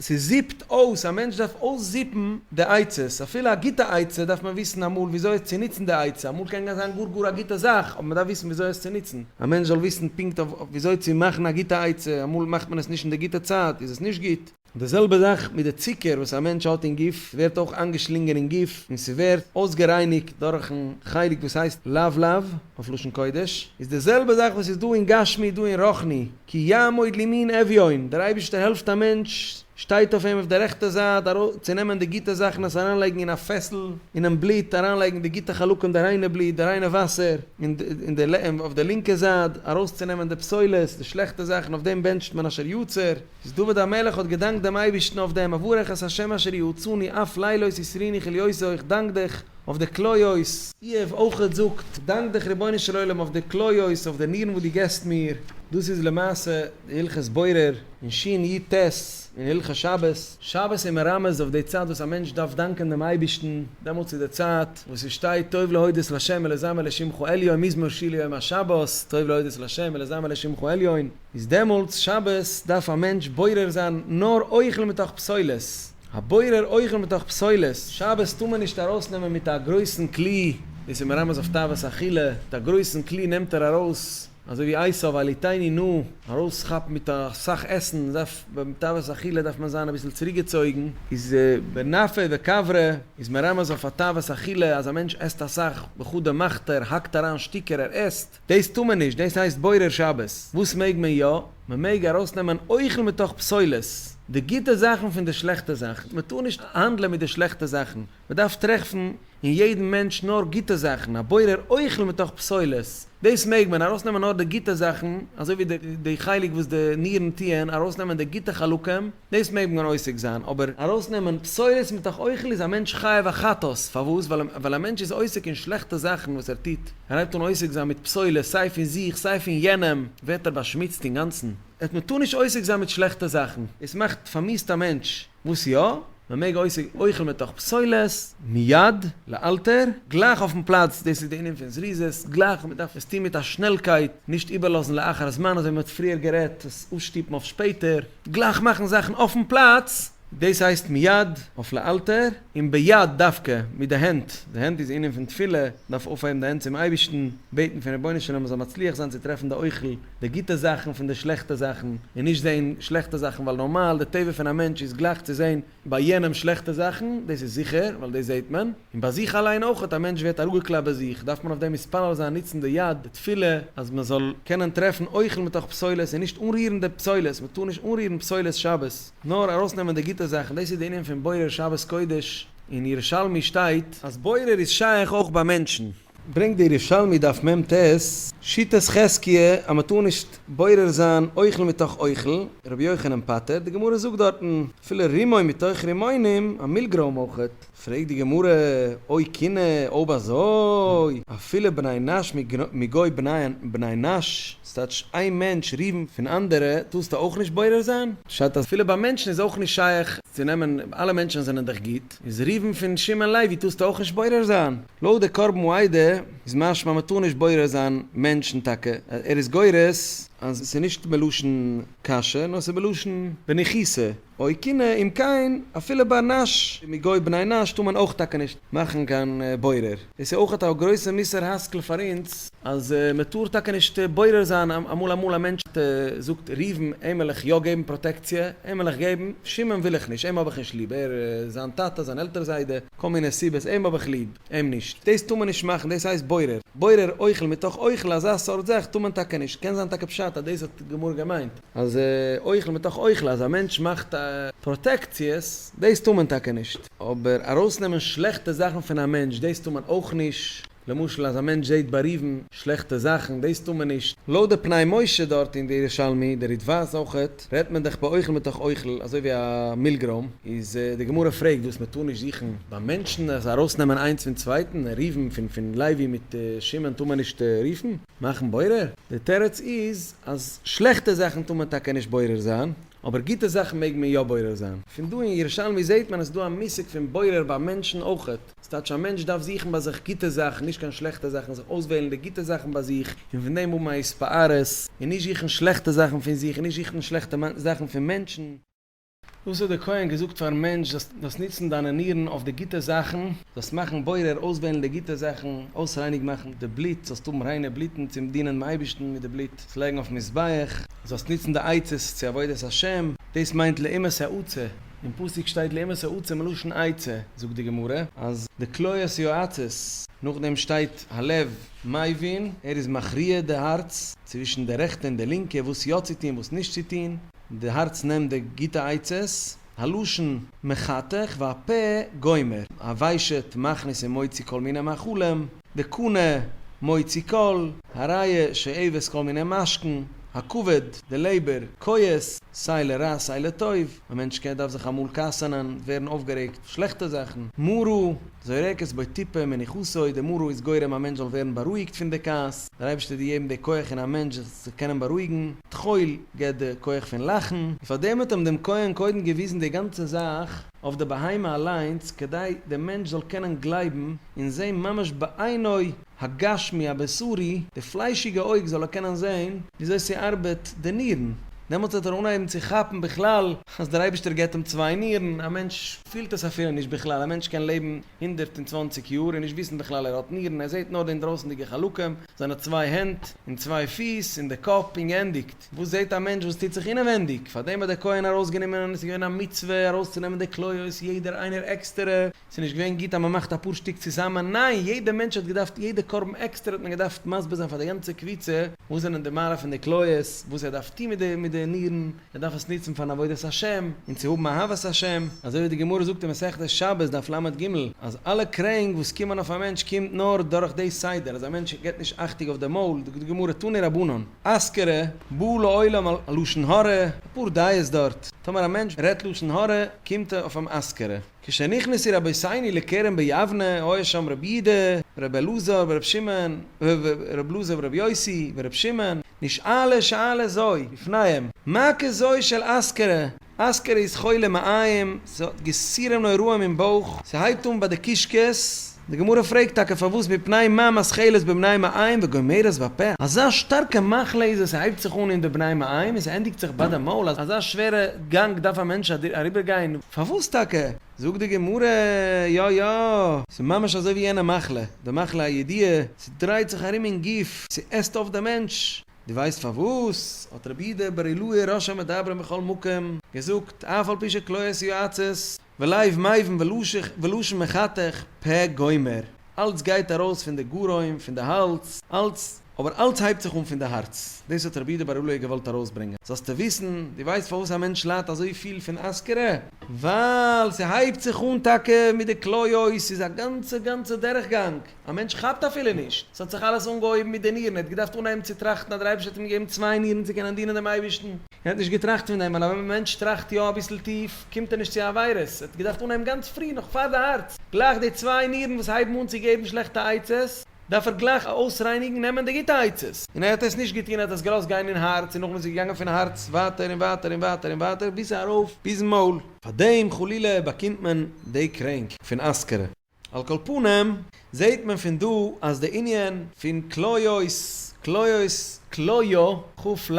ס'זיפט אויס, א מענטש דארף אויסזיפן די עצות, אפילו א גוטע עצה דארף מען וויסן אמאל וויאזוי עס צו נוצן די עצה, אמאל קען גאר זיין גאר גאר א גוטע זאך, אבער מען דארף וויסן וויאזוי עס צו נוצן, א מענטש זאל וויסן פונקט אויף וויאזוי צו מאכן א גוטע עצה, אמאל מאכט מען עס נישט אין די גוטע צייט איז עס נישט גוט. די זעלבע זאך מיט די צוקער וואס א מענטש האט אין גוף, ס'ווערט אויך איינגעשלינגען אין גוף און ס'ווערט אויסגערייניגט דורכן חלק וואס הייסט לבלב אויף לשון קודש, איז די זעלבע זאך וואס איז דא אין גשמי איז דא אין רוחני, כי יעמוד לימין אביון, דער אייבערשטער העלפט א מענטש, שטייט אויף אים אויף די רעכטע זייט, ארויס צו נעמען די גוטע זאכן עס אריינלייגן אין א פעסל, אינעם בלוט אריינלייגן די גוטע חלקים די ריינע בלוט די ריינע וואסער, און די אויף די לינקע זייט ארויס צו נעמען די פסולת די שלעכטע זאכן אויף דעם בענטשט מען אשר יצר, איז דוד המלך האט געדאנקט דעם אייבערשטן אויף דעם, אברך את ה' אשר יעצרני אף לילות יסריני כליוסי איך דאנק דיך אויף די כליות. איוב אויכעט זאגט, דאנק דיך רבונו של עולם אויף די כליות, אויף די נירן וואס דו געסט מיר. דאס איז למעשה די הלכות בורר אין שין י ט אין הלכות שבת. שבת איז מרמז אויף די צייט וואס א מענטש דארף דאנקען דעם אייבערשטן, דעמאלטס איז די צייט וואס עס שטייט טוב להודות לשם ולזמר לשמך עליון מזמור שיר ליום השבת, טוב להודות לשם ולזמר לשמך עליון. איז דעמאלטס שבת דארף א מענטש בורר זיין נאר אוכל מתוך פסולת, הבורר אוכל מתוך פסולת, שבת טאר מען נישט ארויס נעמען מיט א גרויסן כלי, דאס איז מרמז אויף תאוות אכילה, מיט א גרויסן כלי נעמט ער ארויס, אזוי ווי עשיו אלי תאני נא, ארויס כאפן מיט אסאך עסן, דארף ביים תאוות אכילה דארף מען זיין אביסל צוריק געצויגן, איז בנפי וקברי איז מרמז אויף א תאוות אכילה, אז א מענטש עסט אסאך וכדו' מאכט ער, האקט אריין שטיקער, ער עסט. דאס טאר מען נישט, דאס הייסט בורר שבת. וואס מעג מען יא? מען מעג ארויסנעמען אוכל מתוך פסולת, די גוטע זאכן פון די שלעכטע זאכן, מען טאר נישט האנדלען מיט די שלעכטע זאכן, מען דארף טרעפן אין יעדן מענטש נאר גוטע זאכן, א בורר אוכל מתוך פסולת, דאס מעג מען, ארויסנעמען נאר די גוטע זאכן, אזוי ווי די חלק וואס די נירן טוען, ארויסנעמען די גוטע חלקים. דאס מעג מען עוסק זיין, אבער ארויסנעמען בשורות מתוך אוכל איז א מענטש חייב א חטאת, פארוואס? ווייל א מענטש איז עוסק אין שלעכטע זאכן וואס ער טוט, ער הייבט אן עוסק זיין מיט פסולת סיי פון זיך סיי פון יענעם, ווערט ער באשמוצט אינגאנצן, אט מ'טאר נישט עוסק זיין מיט שלעכטע זאכן, עס מאכט פארמיסט א מענטש, וואס יא? מען מעג עוסק אוכל מתוך פסולת, מיד, לאלתר, גלייך אויפן פלאץ, דאס איז די ענין פון זריזות, גלייך, מען דארף עס טון מיט א שנעלקייט, נישט איבערלאזן לאחר זמן, אזוי ווי מען האט פריער גערעדט, עס אפשטופן אויף שפעטער. גלייך מאכן זאכן אויפן פלאץ. דאס הייסט מיד, אויף לאלתר, און ביד דווקא, מיט די הענט. די הענט איז ענין פון תפילה, מ'דארף אויפהייבן די הענט צום אייבערשטן, בעטן פון רבונו של עולם מ'זאל מצליח זיין צו טרעפן די אוכל, די גוטע זאכן פון די שלעכטע זאכן, און נישט זען שלעכטע זאכן, ווייל נארמאל די טבע פון א מענטש איז גלייך צו זען ביי יענעם שלעכטע זאכן, דאס איז זיכער, ווייל דאס זעט מען, און ביי זיך אליין אויך, א מענטש ווערט אראפגעקלאפט ביי זיך, דארף מען אויף דעם מתפלל זיין, נוצן די יד, די תפילה, אז מען זאל קענען טרעפן אוכל מתוך פסולת, און נישט אנרירן די פסולת, מען טאר נישט אנרירן פסולת שבת, נאר ארויסנעמען די גוטע זאכן, דאס איז די ענין פון בורר שבת קודש, אין ירושלמי שטייט, אז בורר איז שייך אויך ביי מענטשן. ברענגט דער ירושלמי דף מ ט, שיטת חזקיה אז מען טאר נישט בורר זיין אוכל מתוך אוכל, רבי יוחנן פטר, די גמרא זאגט דארטן אפילו רימון מתוך רימונים, א מילגרוים אויכעט, פרעגט די גמרא, אוי כינע, אויב אזוי, אפילו בני נש מגוי בני נש, ס'טייטש איין מענטש ריבן פון אנדערע, טארסטו אויך נישט בורר זיין? פשט אז אפילו ביי מענטשן איז אויך נישט שייך צו נעמען, אלע מענטשן זענען דאך גוט. איז רובן פון שמעון לוי טוסטו אויך נישט בורר זיין? לויט די קרבן העדה איז משמע מ'טאר נישט בורר זיין מענטשן טאקע, ער איז גורס אז ס'איז נישט מלשון קשיא נאר ס'איז מלשון בנחיסה, אוי קינא אם כן אפילו ביי נש מגוי בני נש טאר מען אויך טאקע נישט מאכן קיין בורר. דאס איז אויך א גרויסע מוסר השכל פאר אונז, אז מען טאר טאקע נישט בורר זיין, אמאל אמאל א מענטש זאגט ראובן אים וועל איך יא געבן פראטעקציע, אים וועל איך געבן, שמעון וויל איך נישט, אים האב איך נישט ליב, ער איז זיין טאטע, זיין עלטער זיידע, כל מיני סיבות, אים האב איך ליב, אים נישט, דאס טאר מען נישט מאכן, דאס הייסט בורר, בורר אוכל מתוך אוכל, אזא סארט זאך טאר מען טאקע נישט, קען זיין טאקע פשט אז דאס האט גמור געמיינט, אז אוכל מתוך אוכל, אז א מענטש מאכט פראטעקציעס, דאס טאר מען טאקע נישט. אבער ארויסנעמען שלעכטע זאכן פון א מענטש דאס טאר מען אויך נישט, למשל אז א מענטש זעהט בריוון שלעכטע זאכן דאס טאר מען נישט. לויט די פני משה דארט אין די ירושלמי, די ריטבה'ס אויכעט, רעדט מען דאך ביי אוכל מתוך אוכל אזוי ווי א מילגרוים, איז די גמרא פרעגט וואס מען טאר נישט זוכן ביי מענטשן אז ארויסנעמען איינס פון צווייטן, ריוון פון פון לוי מיט שמעון טאר מען נישט רופן, מאכן בורר? די תירוץ איז אז שלעכטע זאכן טאר מען טאקע נישט בורר זיין, אבער גוטע זאכן מעג מען יא בורר זיין. פון דא אין ירושלמי זעהט מען אז ס'דא א מושג פון בורר ביי מענטשן אויכעט. ס'טייטש א מענטש דארף זוכן ביי זיך גוטע זאכן, נישט קיין שלעכטע זאכן, זיך אויסוועלן די גוטע זאכן ביי זיך, און פון דעם האבן א התפארות, און נישט זוכן שלעכטע זאכן פון זיך, און נישט זוכן שלעכטע זאכן פון מענטשן. דאס האט דער כהן געזאגט פארן מענטש, זאלסט זאלסט נוצן דיינע נירן אויף די גוטע זאכן, זאלסט מאכן בורר, אויסוועלן די גוטע זאכן, אויסרייניג מאכן די בלוט, זאלסט האבן ריינע בלוטן צום דינען דעם אייבערשטן מיט די בלוט, עס לייגן אויפן מזבח. זאלסט נוצן די עצות צו עבודת השם, דאס מיינט לאימת העצה, אין פסוק שטייט לאימת העצה מלשון עצה, זאגט די גמרא אז די כליות יועצות, נאכדעם שטייט הלב מבין, ער איז מכריע די הארץ, צווישן די רעכטע און די לינקע, וואס יא צו טון וואס נישט צו טון, די הארץ נעמט די גוטע עצות, הלשון מחתך והפה גומר, הוויישעט מכניס און מוציא כל מיני מאכלים, די קנה מוציא קול, הראיה שעבס כל מיני משכן, הכבוד, די לעבער, כועס, סיי לרע סיי לטוב, א מענטש קען, דארף זיך אמאל כעסענען, ווערן אויפגערעגט, שלעכטע זאכן, מרה, זורקת בו טיפה מנוחותו, די מרה איז גורם א מענטש זאל ווערן בארואיגט פון די כעס, דער אייבערשטער האט געגעבן די כח אין א מענטש זיך צו קענען בארואיגן, תחול, געבט די כח פון לאכן. און פארדעם האט אים דעם כהן קודם געוויזן די גאנצע זאך. אויף די בהמה אליינס כדי די מענטש זאל קענען גלייבן און זעהן ממש בעינו הגשמי הבשרי, די פליישיגע אויג זאל ער קענען זעהן וויאזוי ס'ארבעט די נירן, דעמאלטס וועט ער אנהייבן צו כאפן בכלל אז דער אייבישטער געבט אים צוויי נירן, א מענטש פילט עס אפילו נישט בכלל, א מענטש קען לעבן הונדערט און צוואנציג יאר און נישט וויסן בכלל ער האט נירן, ער זעהט נאר די אינדרויסענדיגע חלקים, זיינע צוויי הענט און צוויי פיס און די קאפ און גענדיגט. געזאגט. וואס זעט א מענטש וואס טוט זיך אינעווענדיג? פאר דעם האט דער כהן ארויסגענומען און עס איז געווען א מצוה ארויסצונעמען די כליות יעדער איינער עקסטערע, עס איז נישט געווען גוט אז מען מאכט אפאר שטיק צוזאמען, ניין, יעדע מענטש האט געדארפט יעדע קרבן עקסטער האט מען געדארפט מסביר זיין פאר די גאנצע קבוצה וואס זענען די מעלה פון די כליות, וואס ער דארף טון מיט די נירן, ער דארף עס נוצן פארן עבודת השם, און צו האבן אהבת השם, אזוי ווי די גמרא זאגט אין מסכת שבת דף לג ג, אז אלע קרענק וואס קומען אויף א מענטש קומט נאר דורך די סדר, אז א מענטש געבט נישט אכטוג אויף די מויל, זאגט די גמרא תני רבנן, אזכרה, בא לעולם על לשון הרע, אפאר דעות דארט, טאמער א מענטש רעדט לשון הרע קומט ער אויף אן אזכרה. כשנכנסו רבותינו לכרם ביבנה היה שם רבי אידה ורבי אלעזר ורבי שמעון ורבי אלעזר ורבי יוסי ורבי שמעון נשאלה שאלה זוי בפניהם מה כזוי של אזכרה אסקער איז חולה מעיים, ס'האט געסירעם נוראים אין בויך, ס'הייבט אן ביי די קישקעס, די גמרא פרעגט טאקע פארוואס מפני מה מסכלת בבני מעיים וגומרת בפה, אזא שטארקע מחלה איז עס ס'הייבט זיך אן אין די בני מעיים און ס'ענדיגט זיך ביי די מויל, אזא שווערע גאנג דארף א מענטש אריבער גיין? פארוואס טאקע? זאגט די גמרא, יא יא, ס'ממש אזוי ווי יענע מחלה, די מחלה הידיעה, ס'דרייט זיך ארום אין גוף, ס'עסט אויף די מענטש, דו ווייסט פארוואס האט רבי אידא בר אילאה ראש המדברים בכל מקום געזאגט אף על פי שקלאות יועצות ולאיו מאיוון ולשון מחתך פ גומר אלץ גייט ארויס פון די גרון פון די האלז אלץ אבער אלץ הייבט זיך אן פון די הארץ דאס האט רבי אידא בר אילאה געוואלט ארויסברענגען זאלסטו וויסן דו ווייסט פארוואס א מענטש ליידט אזוי פיל פון אזכרה ווייל ס'הייבט זיך אן טאקע מיט די כליות ס'איז א גאנצע גאנצע דרך גאנג. א מענטש כאפט אפילו נישט, ס'האט זיך אלעס אנגעהויבן מיט די נירן, ער האט געדארפט אנהייבן צו טראכטן אז דער אייבערשטער האט אים געגעבן צוויי נירן צו קענען דינען דעם אייבערשטן, ער האט נישט געטראכט פון דעם, ווייל ווען א מענטש טראכט יא אביסל טיף, קומט ער נישט צו עבירות, ער האט געדארפט אנהייבן גאנץ פרי, נאך פאר די הארץ, גלייך די צוויי נירן וואס הייבן אן צו געבן שלעכטע עצות, דארף ער גלייך אויסרייניגן, נעמען די גוטע עצות, און ער האט עס נישט געטון, ער האט עס געלאזט גיין אין הארץ, און נאכדעם איז עס געגאנגען פון הארץ ווייטער און ווייטער און ווייטער און ווייטער, ביז ארויף ביזן מויל. פאר דעם חלילה באקומט מען די קרענק פון אזכרה. על כל פנים, זעהט מען פון דא אז די ענין פון כליות, כליות, כליה, ח ל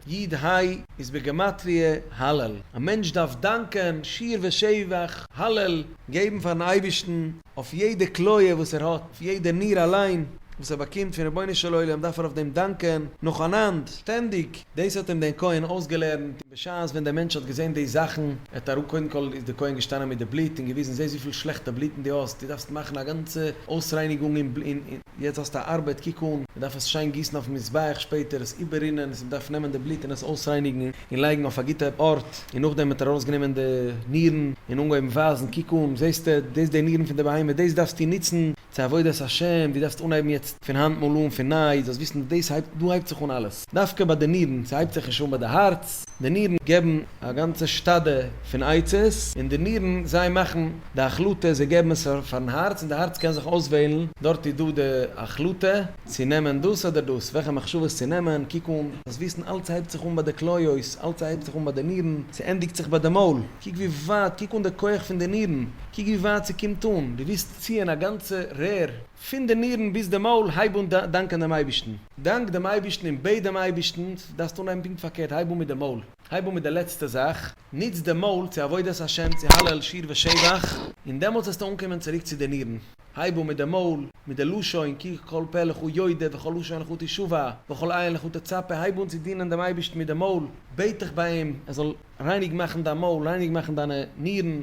י ד ה, איז בגימטריא הלל. א מענטש דארף דאנקען, שיר ושבח, הלל, געבן פארן אייבערשטן אויף יעדע כליה וואס ער האט, אויף יעדע ניר אליין וואס ער באקומט פון רבונו של עולם דארף ער אויף דעם דאנקען נאכאנאנד, שטענדיג. דאס האט אים דער כהן אויסגעלערנט, און בשעת ווען דער מענטש האט געזען די זאכן, ער האט אראפ קודם כל איז דער כהן געשטאנען מיט די בלוט און געוויזן, זע וויפיל שלעכטע בלוטן דו האסט, דו דארפסט מאכן א גאנצע אויסרייניגונג, און יעצט האסטו א ארבעט, קוק אן, מען דארף עס שיין גיסן אויפן מזבח שפעטער, עס איבעררינען, עס מען דארף נעמען די בלוט און עס אויסרייניגן, און לייגן אויף א גוטע ארט, און נאכדעם האט ער ארויסגענומען די נירן, און אנגעהויבן ווייזן, קוק אן, זעסטו, דאס איז די נירן פון די בהמה, דאס דארפסטו נוצן, צו עבודת השם, דו דארפסט אנהייבן יעצט פון היינט מאל אן פון ניי, זאלסט וויסן אז דאס הייבט, דא הייבט זיך אן אלעס, דווקא ביי די נירן, ס'הייבט זיך נישט אן ביי די הארץ, די נירן געבן א גאנצע שטאדע פון עצות, און די נירן זיי מאכן די החלטה, זיי געבן עס פארן הארץ, און די הארץ קען זיך אויסוועלן, דארט איז דא די החלטה, צו נעמען דאס אדער דאס, וועלכע מחשבות צו נעמען, קוק אן, זאלסט וויסן אלעס הייבט זיך אן ביי די כליות, אלעס הייבט זיך אן ביי די נירן, ס'ענדיגט זיך ביי די מויל, קוק ווי ווייט, קוק אן די כח פון די נירן, קוק ווי ווייט ס'קומט אן, דו וועסט. ציען א גאנצע רער. פון די נירן ביז די מויל, הייב אן דאנקען דעם אייבערשטן. דאנק דעם אייבערשטן און בעט דעם אייבערשטן, דארפסט אנהייבן פונקט פארקערט, הייב אן מיט די מויל, הייב אן מיט די לעצטע זאך, נוץ די מויל צו עבודת השם, צו הלל, שיר ושבח, און דעמאלטס וועסטו אנקומען צוריק צו די נירן, הייב אן מיט די מויל, מיט די לשון, כי כל פה לך יודע וכל לשון לך תשובה, וכל עין לך תצפה, הייב אן צו דינען דעם אייבערשטן מיט די מויל, בעט דיך ביי אים ער זאל. רייניג מאכן דיין מויל, רייניג מאכן דיינע נירן,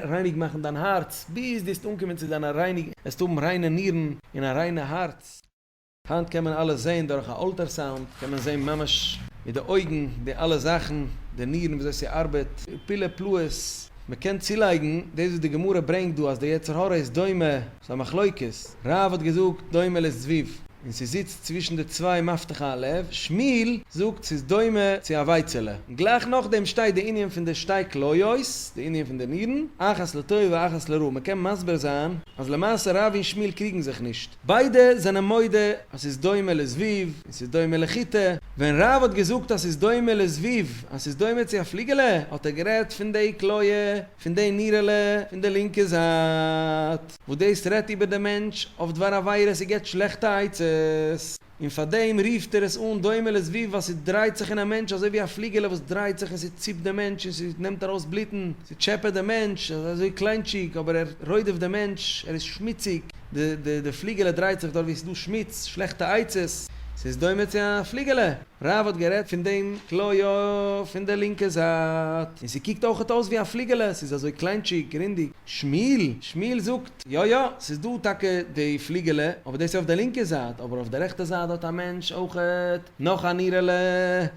רייניג מאכן דיין הארץ, ביז דו וועסט אנקומען צו זיין א רייניג, וועסט האבן ריינע נירן און א ריינע הארץ. היינט קען מען אלעס זעהן דורך א אלטערסאונד, קען מען זעהן ממש מיט די אויגן די אלע זאכן, די נירן ווי אזוי ס'ארבעט, פילע פלאות מען קען צולייגן, דאס וואס די גמרא ברענגט דא אז די יצר הרע איז דומה, ס'איז א מחלוקת, רב האט געזאגט דומה לזבוב און ס'זיצט צווישן די צוויי מפתח האלף, שמואל זאגט ס'איז דומה צו א ווייצעלע, און גלייך נאכדעם שטייט די ענין פון די שתי כליות, די ענין פון די נירן, אחת לטוב ואחת לרע, מ'קען מסביר זיין אז למעשה רב און שמואל קריגן זיך נישט, ביידע זענען מודה אז ס'איז דומה לזבוב און ס'איז דומה לחיטה, ווען רב האט געזאגט אז ס'איז דומה לזבוב אז ס'איז דומה צו א פליגעלע האט ער גערעדט פון די כליה. פון די נירעלע פון די לינקע זייט וואס דאס רעדט איבער דעם מענטש אויף דבר עבירות און געבט שלעכטע עצות, און פאר דעם רופט ער עס אן דומה לזבוב ווייל ס'דרייט זיך אין א מענטש אזוי ווי א פליגעלע וואס דרייט זיך און ס'ציפט דעם מענטש און ס'נעמט ארויס בלוטן, ס'טשעפעט דעם מענטש, ער איז אזוי קליינטשיג אבער ער רודפ'ט דעם מענטש, ער איז שמוציג, די די פליגעלע דרייט זיך דארט ווי ס'איז דא שמוץ, שלעכטע עצות, ס'איז דומה צו א פליגעלע. רב האט גערעדט פון דעם כלאיו פון די לינקע זייט, און ס'קוקט אויכעט אויס ווי א פליגעלע, ס'איז אזוי קליינטשיג, רונדיג. שמואל שמואל זאגט, יא יא, ס'איז דא טאקע די פליגעלע, אבער דאס איז אויף די לינקע זייט, אבער אויף די רעכטע זייט האט א מענטש אויכעט נאך א נירעלע,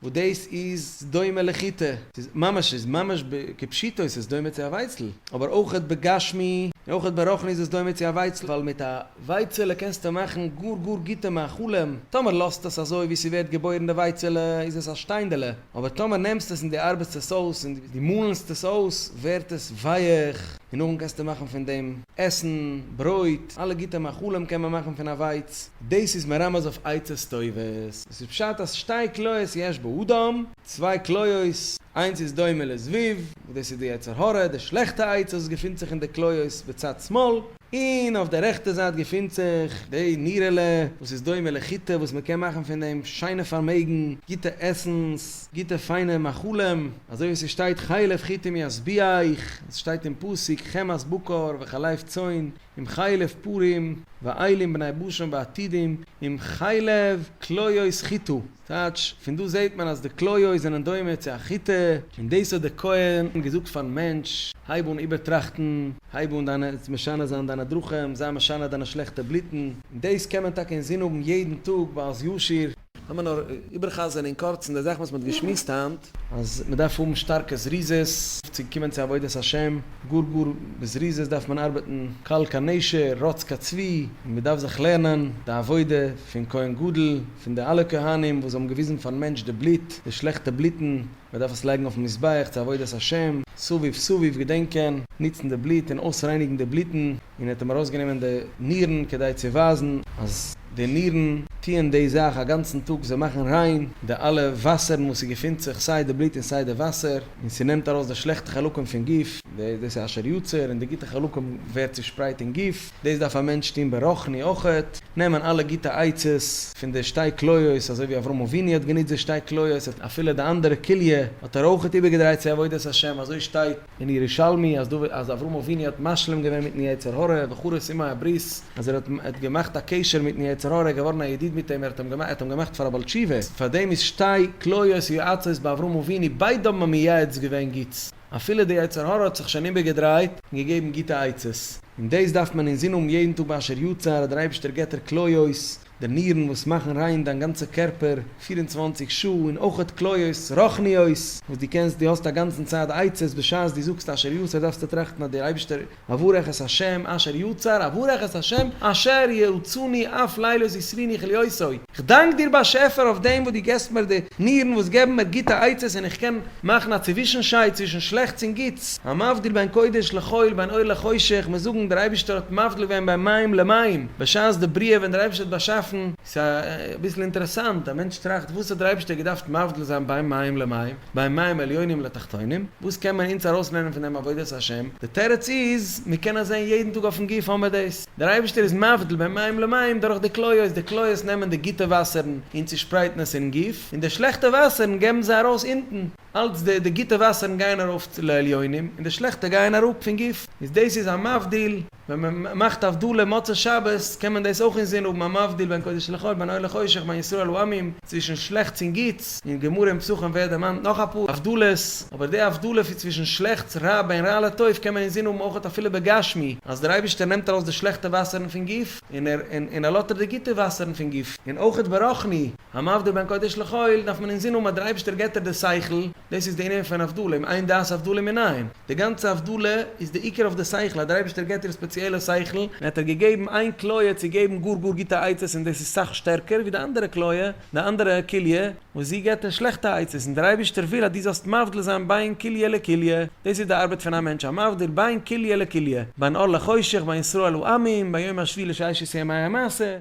וואס דאס איז דומה לחיטה, ס'איז ממש ס'איז ממש כפשיטו, ס'איז דומה צו א ווייצל, אבער אויכעט בגשמי און אויכעט ברוחני איז עס דומה צו א ווייצל, ווייל מיט א ווייצעלע קענסטו מאכן גאר גאר גוטע מאכלים, טאמער לאזט עס אזוי ווי ס'ווערט געבוירן די ווייצעלע איז עס א שטיינדעלע, אבער טאמער נעמסט עס און דו ארבעסט עס אויס און דו מאלנסט עס אויס ווערט עס ווייעך, און נאכדעם קענסטו מאכן פון דעם עסן, ברויט, אלע גוטע מאכלים קען מען מאכן פון א ווייץ. דאס איז מרמז אויף עצות טובות. וואס איז פשט אז שתי כליות יש באדם, צוויי כליות, איינס איז דומה לזבוב, וואס דאס איז די יצר הרע, די שלעכטע עצה וואס געפינט זיך אין די כליות בצד שמאל, און אויף די רעכטע זייט געפינט זיך די נירעלע וואס איז דומה לחיטה וואס מ'קען מאכן פון דעם שיינע פארמעגן, גוטע עסנס, גוטע פיינע מאכלים, אזוי ווי ס'שטייט חלב חיטים ישביע איך, עס שטייט אין פסוק חמת בקר וחלב צאן, עם חלב פרים, ואילים בני בשן ועתידים, עם חלב כליות חיטה. טייטש, פון דא זעהט מען אז די כליות זענען דומה צו א חיטה. און דאס האט דער כהן געזאגט פארן מענטש, הייב אן איבערטראכטן, הייב אן דיינע, משנה זיין דיינע דרכים, זיי משנה דיינע שלעכטע בלוטן, און דאס קען מען טאקע אינזין האבן יעדן טאג ביי אלס ישיר. לאמיר נאר איבער'חזר'ן אין קורצן די זאכן וואס מען האט געשמועסט היינט. אז מען דארף האבן שטארקע זריזות צו קומען צו עבודת השם, גאר גאר בזריזות דארף מען ארבעטן, קל כנשר, רוץ כצבי, און מען דארף זיך לערנען די עבודה פון כהן גדול, פון די אלע כהנים וואס האבן געוויזן פארן מענטש די בלוט, די שלעכטע בלוטן, מען דארף עס לייגן אויפן מזבח צו עבודת השם, סביב סביב געדענקען, ניצן די בלוט און אויסרייניגן די בלוטן, און ער האט אים ארויסגענומען די נירן כדי צו ווייזן אז די נירן טוען די זאך א גאנצן טאג, זיי מאכן ריין די אלע וואסערן וואס עס געפינט זיך, סיי די בלוט און סיי די וואסער, און ס'נעמט ארויס די שלעכטע חלקים פון גוף, דאס איז אשר יצר, און די גוטע חלקים ווערט צושפרייט אין גוף. דאס דארף א מענטש טון ברוחני אויכעט, נעמען אלע גוטע עצות פון די שתי כליות, אזוי ווי אברהם אבינו האט גענוצט די שתי כליות, האט אפילו די אנדערע כליה האט ער אויכעט איבערגעדרייט צו עבודת השם, אזוי שטייט אין ירושלמי אז דוד אז אברהם אבינו האט משלים געווען מיטן יצר הרע וכו' סימא הברית, אז ער האט האט געמאכט א קשר מיטן יצר הרע, געווארן א ידיד מיט אים, ער האט אים געמאכט ער האט אים געמאכט פאר א בעל תשובה, פאר דעם איז שתי כליות ויועצות ביי אברהם אבינו, ביידע האבן אים מייעץ געווען גוטס. אפילו די יצר הרע האט זיך שוין איבערגעדרייט און געגעבן גוטע עצות, און דאס דארף מען אינזין האבן יעדן טאג ביי אשר יצר אז דער אייבערשטער געבט דיר כליות, די נירן וואס מאכן ריין דיין גאנצע קערפער פֿיר און צוואַנציק שעה, און אויכעט כליות רוחניות וואס דו קענסט, דו האסט א גאנצן צייט די עצות, בשעת דו זאגסט אשר יצר דארפסטו טראכטן אז דער אייבערשטער אברך את השם אשר יצר, אברך את השם אשר יעצני אף לילות יסריני כליותיו, כ'דאנק דיר באשעפער אויף דעם וואס דו געבסט מיר די נירן וואס געבן מיר גוטע עצות און איך קען מאכן א צווישנשייד צווישן שלעכטס און גוטס, המבדיל בין קודש לחול בין אור לחושך, מיר זאגן דער אייבערשטער האט מבדיל געווען בין מים למים בשעת די בריאה ווען דער אייבערשטער האט באשאפן, ס'איז אביסל אינטערעסאנט, א מענטש טראכט וואס האט דער אייבערשטער געדארפט מבדיל זיין בין מים למים? ביי מים עליונים לתחתונים, וואס קען מען אונז ארויסלערנען פון דעם עבודת השם? די תירוץ איז, מיר קענען זען יעדן טאג אויפן גוף האמער דאס, דער אייבערשטער איז מבדיל בין מים למים דורך די כליות, די כליות נעמען די גוטע וואסערן און צושפרייטן עס אינעם גוף, און די שלעכטע וואסערן געבן זיי ארויס אונטן, אלץ די די גוטע וואסערן גייען ארויף לעליונים, און די שלעכטע גייען אראפ פון גוף, איז דאס איז א מבדיל. ווען מען מאכט הבדלה מוצאי שבת קען מען דאס אויך אינזין האבן המבדיל בין קודש לחול בין אור לחושך בין ישראל לעמים, צווישן שלעכטס און גוטס, אין גמרא און פסחים ווערט דערמאנט נאך אפאר הבדלות, אבער די הבדלה פון צווישן שלעכטס רע בין רע לטוב קען מען אינזין האבן אויך אפילו בגשמי, אז דער אייבערשטער נעמט ארויס די שלעכטע וואסערן פון גוף און ער און ער לאזט ער די גוטע וואסערן פון גוף, און אויך ברוחני, המבדיל בין קודש לחול, דארף מען אינזין האבן אז דער אייבערשטער געבט דיר די שכל, דאס איז די ענין פון הבדלה, אם אין דעת הבדלה מנין? די גאנצע הבדלה איז די עיקר אויף די שכל, אז דער אייבערשטער געט אונז ספעציעלע שכל, און האט ער געגעבן איין כליה צו געבן גאר גאר גוטע עצות און דאס איז סאך שטערקער ווי די אנדערע כליה, די אנדערע כליה, וואס זי געט אונז שלעכטע עצות, און דער אייבערשטער וויל אז דו זאלסט מבדיל זיין בין כליה לכליה, דאס איז די ארבעט פון א מענטש, א מבדיל בין כליה לכליה, בין אור לחושך, בין ישראל לעמים, בין יום השביעי לששת ימי המעשה.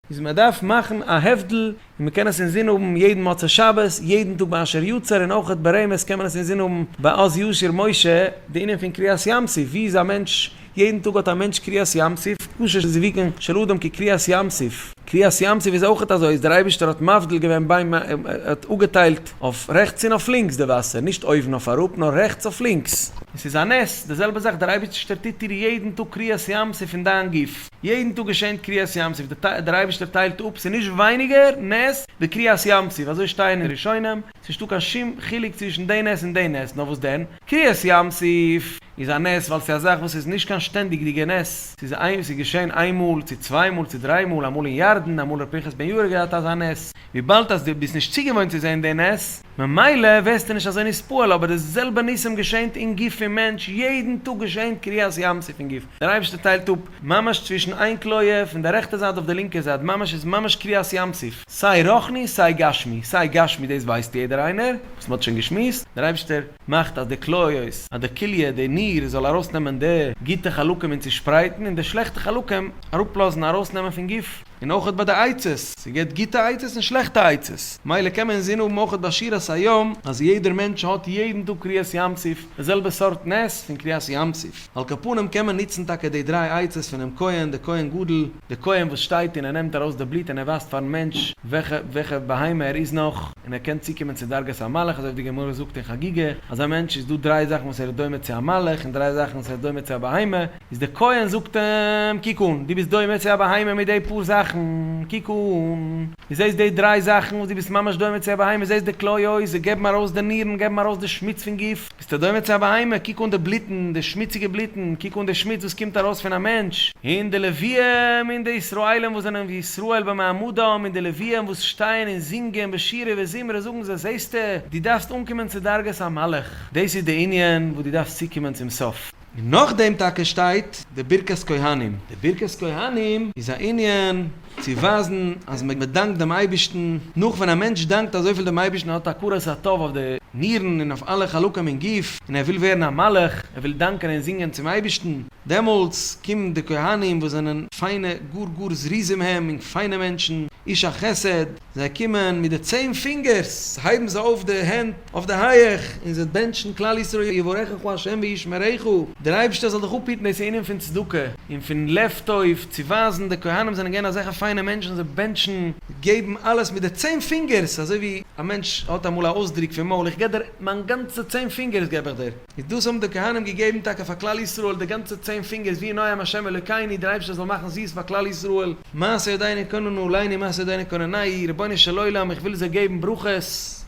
איז מען דארף מאכן א הבדל און מען קען עס אינזין האבן יעדן מוצאי שבת, יעדן טאג ביי אשר יצר און אויכעט ברמז קען מען עס אינזין האבן ביי עוז ישיר משה, די ענין פון קריעת ים סוף, ווי איז א מענטש, יעדן טאג האט א מענטש קריעת ים סוף, קושש זיוויקן של אדם כקריעת ים סוף, קריעת ים סוף איז אויכעט אזוי אז דער אייבישטער האט מבדיל געווען ביים ער האט אפגעטיילט אויף רעכטס און אויף לינקס די וואסער, נישט אויבן אויף אראפ נאר רעכטס אויף לינקס. און ס'איז א נס, די זעלבע זאך דער אייבישטער טוט דיר יעדן טאג קריעת ים סוף אין דיין גוף. יעדן טאג געשענט קריעת ים סוף, דער אייבערשטער טיילט אפ, ס'איז נישט ווייניגער נס ווי קריעת ים סוף, אזוי שטייען אין ראשונים, ס'איז נישטא קיין שום חילוק צווישן די נס און די נס, נאר וואס דען? קריעת ים סוף איז א נס ווייל ס'איז א זאך וואס איז נישט קיין שטענדיגדיגע נס, ס'איז געשען איין מאל, צו צוויי מאל, צו דריי מאל, אמאל אין ירדן, אמאל ר' פנחס בן יהודה האט געהאט אזא נס, וויבאלד אז דו ביסט נישט צוגעוואוינט צו זען די נס, ממילא ווערסטו נישט אזוי נספעל, אבער די זעלבע ניסים געשענט אין גוף פון מענטש, יעדן טאג געשענט קריעת ים סוף אין גוף, דער אייבערשטער טיילט אפ ממש צווישן איין כליה פון די רעכטע זייט אויף די לינקע זייט, ממש איז ממש קריעת ים סוף, סיי רוחני סיי גשמי, סיי גשמי דאס ווייסט יעדער איינער וואס מען האט שוין געשמועסט, דער אייבערשטער מאכט אז די כליות, אז די כליה, די ניר זאל ארויסנעמען די גוטע חלקים און צושפרייטן, און די שלעכטע חלקים אראפלאזן ארויסנעמען פון גוף. און אויך ביי די עצות, ס'געט גוטע עצות און שלעכטע עצות, מילא קען מען אינזין האבן אויך ביי שירת היום אז יעדער מענטש האט יעדן טאג קריעת ים סוף די זעלבע סארט נס פון קריעת ים סוף, על כל פנים קען מען נוצן טאקע די דריי עצות פונעם כהן, די כהן גדול, די כהן וואס שטייט און ער נעמט ארויס די בלוט און ער ווייזט פארן מענטש וועלכע וועלכע בהמה ער איז נאך, און ער קען צוקומען צו דרגת המלאך אזוי ווי די גמרא זאגט אין חגיגה אז א מענטש איז דא דריי זאכן וואס ער איז דומה צו א מלאך און דריי זאכן וואס ער איז דומה צו א בהמה, איז דער כהן זאגט אים, קוק אן, דו ביסט דומה צו א בהמה מיט די פאר זאכן, קוק אן, דו זעסט די דריי זאכן וואס דו ביסט ממש דומה צו א בהמה, זעסט די כליות, זיי געבן ארויס די נירן, געבן ארויס די שמוץ פון גוף, ביסטו דומה צו א בהמה, קוק אן די בלוטן, די שמוציגע בלוטן, קוק אן די שמוץ וואס קומט ארויס פון א מענטש, און די לוויים, און די ישראלים וואס זענען ווי ישראל במעמדם, און די לוויים וואס שטייען און זינגען בשירה וזמרה זאגן זיי, זעסטו, דו דארפסט אנקומען צו דרגת המלאך, דאס איז די ענין וואס דו דארפסט צוקומען צום סוף. און נאכדעם טאקע שטייט די ברכת כהנים. די ברכת כהנים איז א ענין צו ווייזן אז מען דאנקט דעם אייבערשטן, נאך ווען א מענטש דאנקט אזויפיל דעם אייבערשטן, ער האט הכרת הטוב אויף די נירן און אויף אלע חלקים אין גוף, און ער וויל ווערן א מלאך, ער וויל דאנקען און זינגען צום אייבערשטן, דעמאלטס קומען די כהנים וואס זענען פיינע גאר גאר זריזים הם און פיינע מענטשן, איש החסד, זיי קומען מיט די צען פינגערס, הייבן זיי אויף די הענט אויף די הייעך, און זיי בענטשן כלל ישראל יברכך ה' וישמרך, דער אייבערשטער זאל דיך אפהיטן דאס ענין פון צדקה און פון לב טוב, צו ווייזן די כהנים זענען געווען אזעלכע פיינע מענטשן, זיי בענטשן, געבן אלעס מיט די צען פינגערס, אזוי ווי א מענטש האט אמאל א אויסדרוק פון מויל, איך געב דיר מיין גאנצע צען פינגערס געב איך דיר, איז דאס האבן די כהנים געגעבן טאקע פאר כלל ישראל, די גאנצע צען פינגערס, ווי נועם ה' אלוקינו, דער אייבערשטער זאל מאכן זיס פאר כלל ישראל. מעשה דיינע קאנען נו ליין און מעשה דיינע קאנען ניי, רבונו של עולם איך וויל זיי געבן ברכות,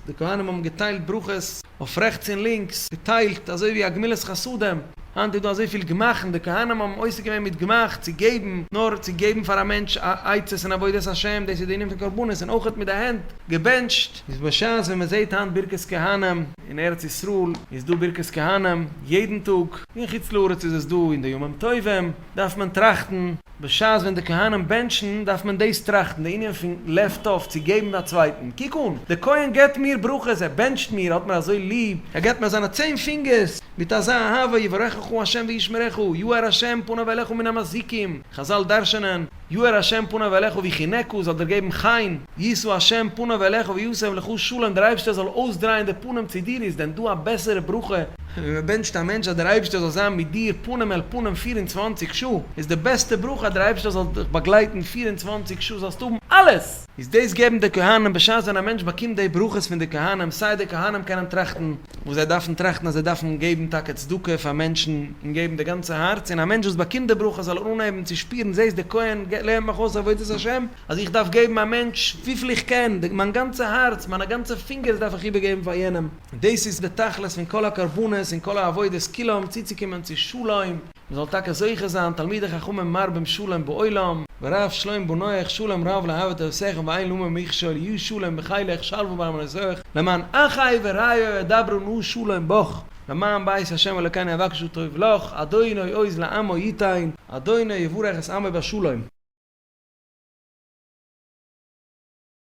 די כהנים האבן געטיילט ברכות אויף רעכטס און לינקס, געטיילט אזוי ווי א גמילת חסדים, היינט איז דא אזויפיל גמח'ן, די כהנים האבן עוסק געווען מיט גמח, צו געבן, נאר צו געבן פאר א מענטש עצות אין עבודת השם, דאס איז די ענין פון קרבנות, און אויכעט מיט די הענט געבענטשט. איז בשעת ווען מען זעהט היינט ברכת כהנים, אין ארץ ישראל איז דא ברכת כהנים יעדן טאג, אין חוץ לארץ איז עס דא אין די ימים טובים, דארף מען טראכטן, בשעת ווען די כהנים בענטשן דארף מען דאס טראכטן, די ענין פון לעפט אויף, צו געבן א צווייטן. קוק אן, דער כהן געבט מיר ברכות, ער בענטשט מיר, ער האט מיר אזוי ליב, ער געבט מיר זיינע צען פינגערס מיט אזא אהבה, יברכך ה' וישמרך, יאר ה' פניו אליך מן המזיקים, חזל דרש'נען, יאר ה' פניו אליך, ווי חינעקו, זאל דיר געבן חן. יישא השם פניו אליך וישם לך שלום דער אייבערשטער זאל אויסדרייען די פנים צו דיר איז דען דא א בעסערע ברכה? ווען מען בענטשט א מענטש אז דער אייבערשטער זאל זיין מיט דיר פנים אל פנים פֿיר און צוואַנציק שעה איז די בעסטע ברכה אז דער אייבערשטער זאל דיך באגלייטן פֿיר און צוואַנציק שעה זאלסט האבן אלעס! איז דאס געבן די כהנים בשעת ווען א מענטש באקומט די ברכות פון די כהנים סיי די כהנים קענען טראכטן וואס זיי דארפן טראכטן אז זיי דארפן געבן טאקע צדקה פאר מענטשן און געבן די גאנצע הארץ און א מענטש וואס באקומט די ברכה זאל אנהייבן צו שפירן זעסט די כהן לערנט מיך אויס עבודת השם אז איך דארף געבן א מענטש וויפיל איך קען, מיין גאנצע הארץ, מיינע גאנצע פינגערס דארף איך איבערגעבן פאר יענעם, דאס איז די תכלית פון כל הקרבנות און כל העבודות כולם, צוצוקומען צו שלום, מען זאל טאקע זוכה זיין, תלמידי חכמים מרבים שלום בעולם, ורב שלום בנויך, שלום רב לא אהבת עשיך ואין למו מכשול, יהיו שלום בחילך, שלוה בארמנותיך, למען אחי ורעיו אדברה נא שלום בך, למען בית ה' אלוקינו אבקשו טוב לך, אדוני עוז לעמו יתן, אדוני יברך את עמו בשלום.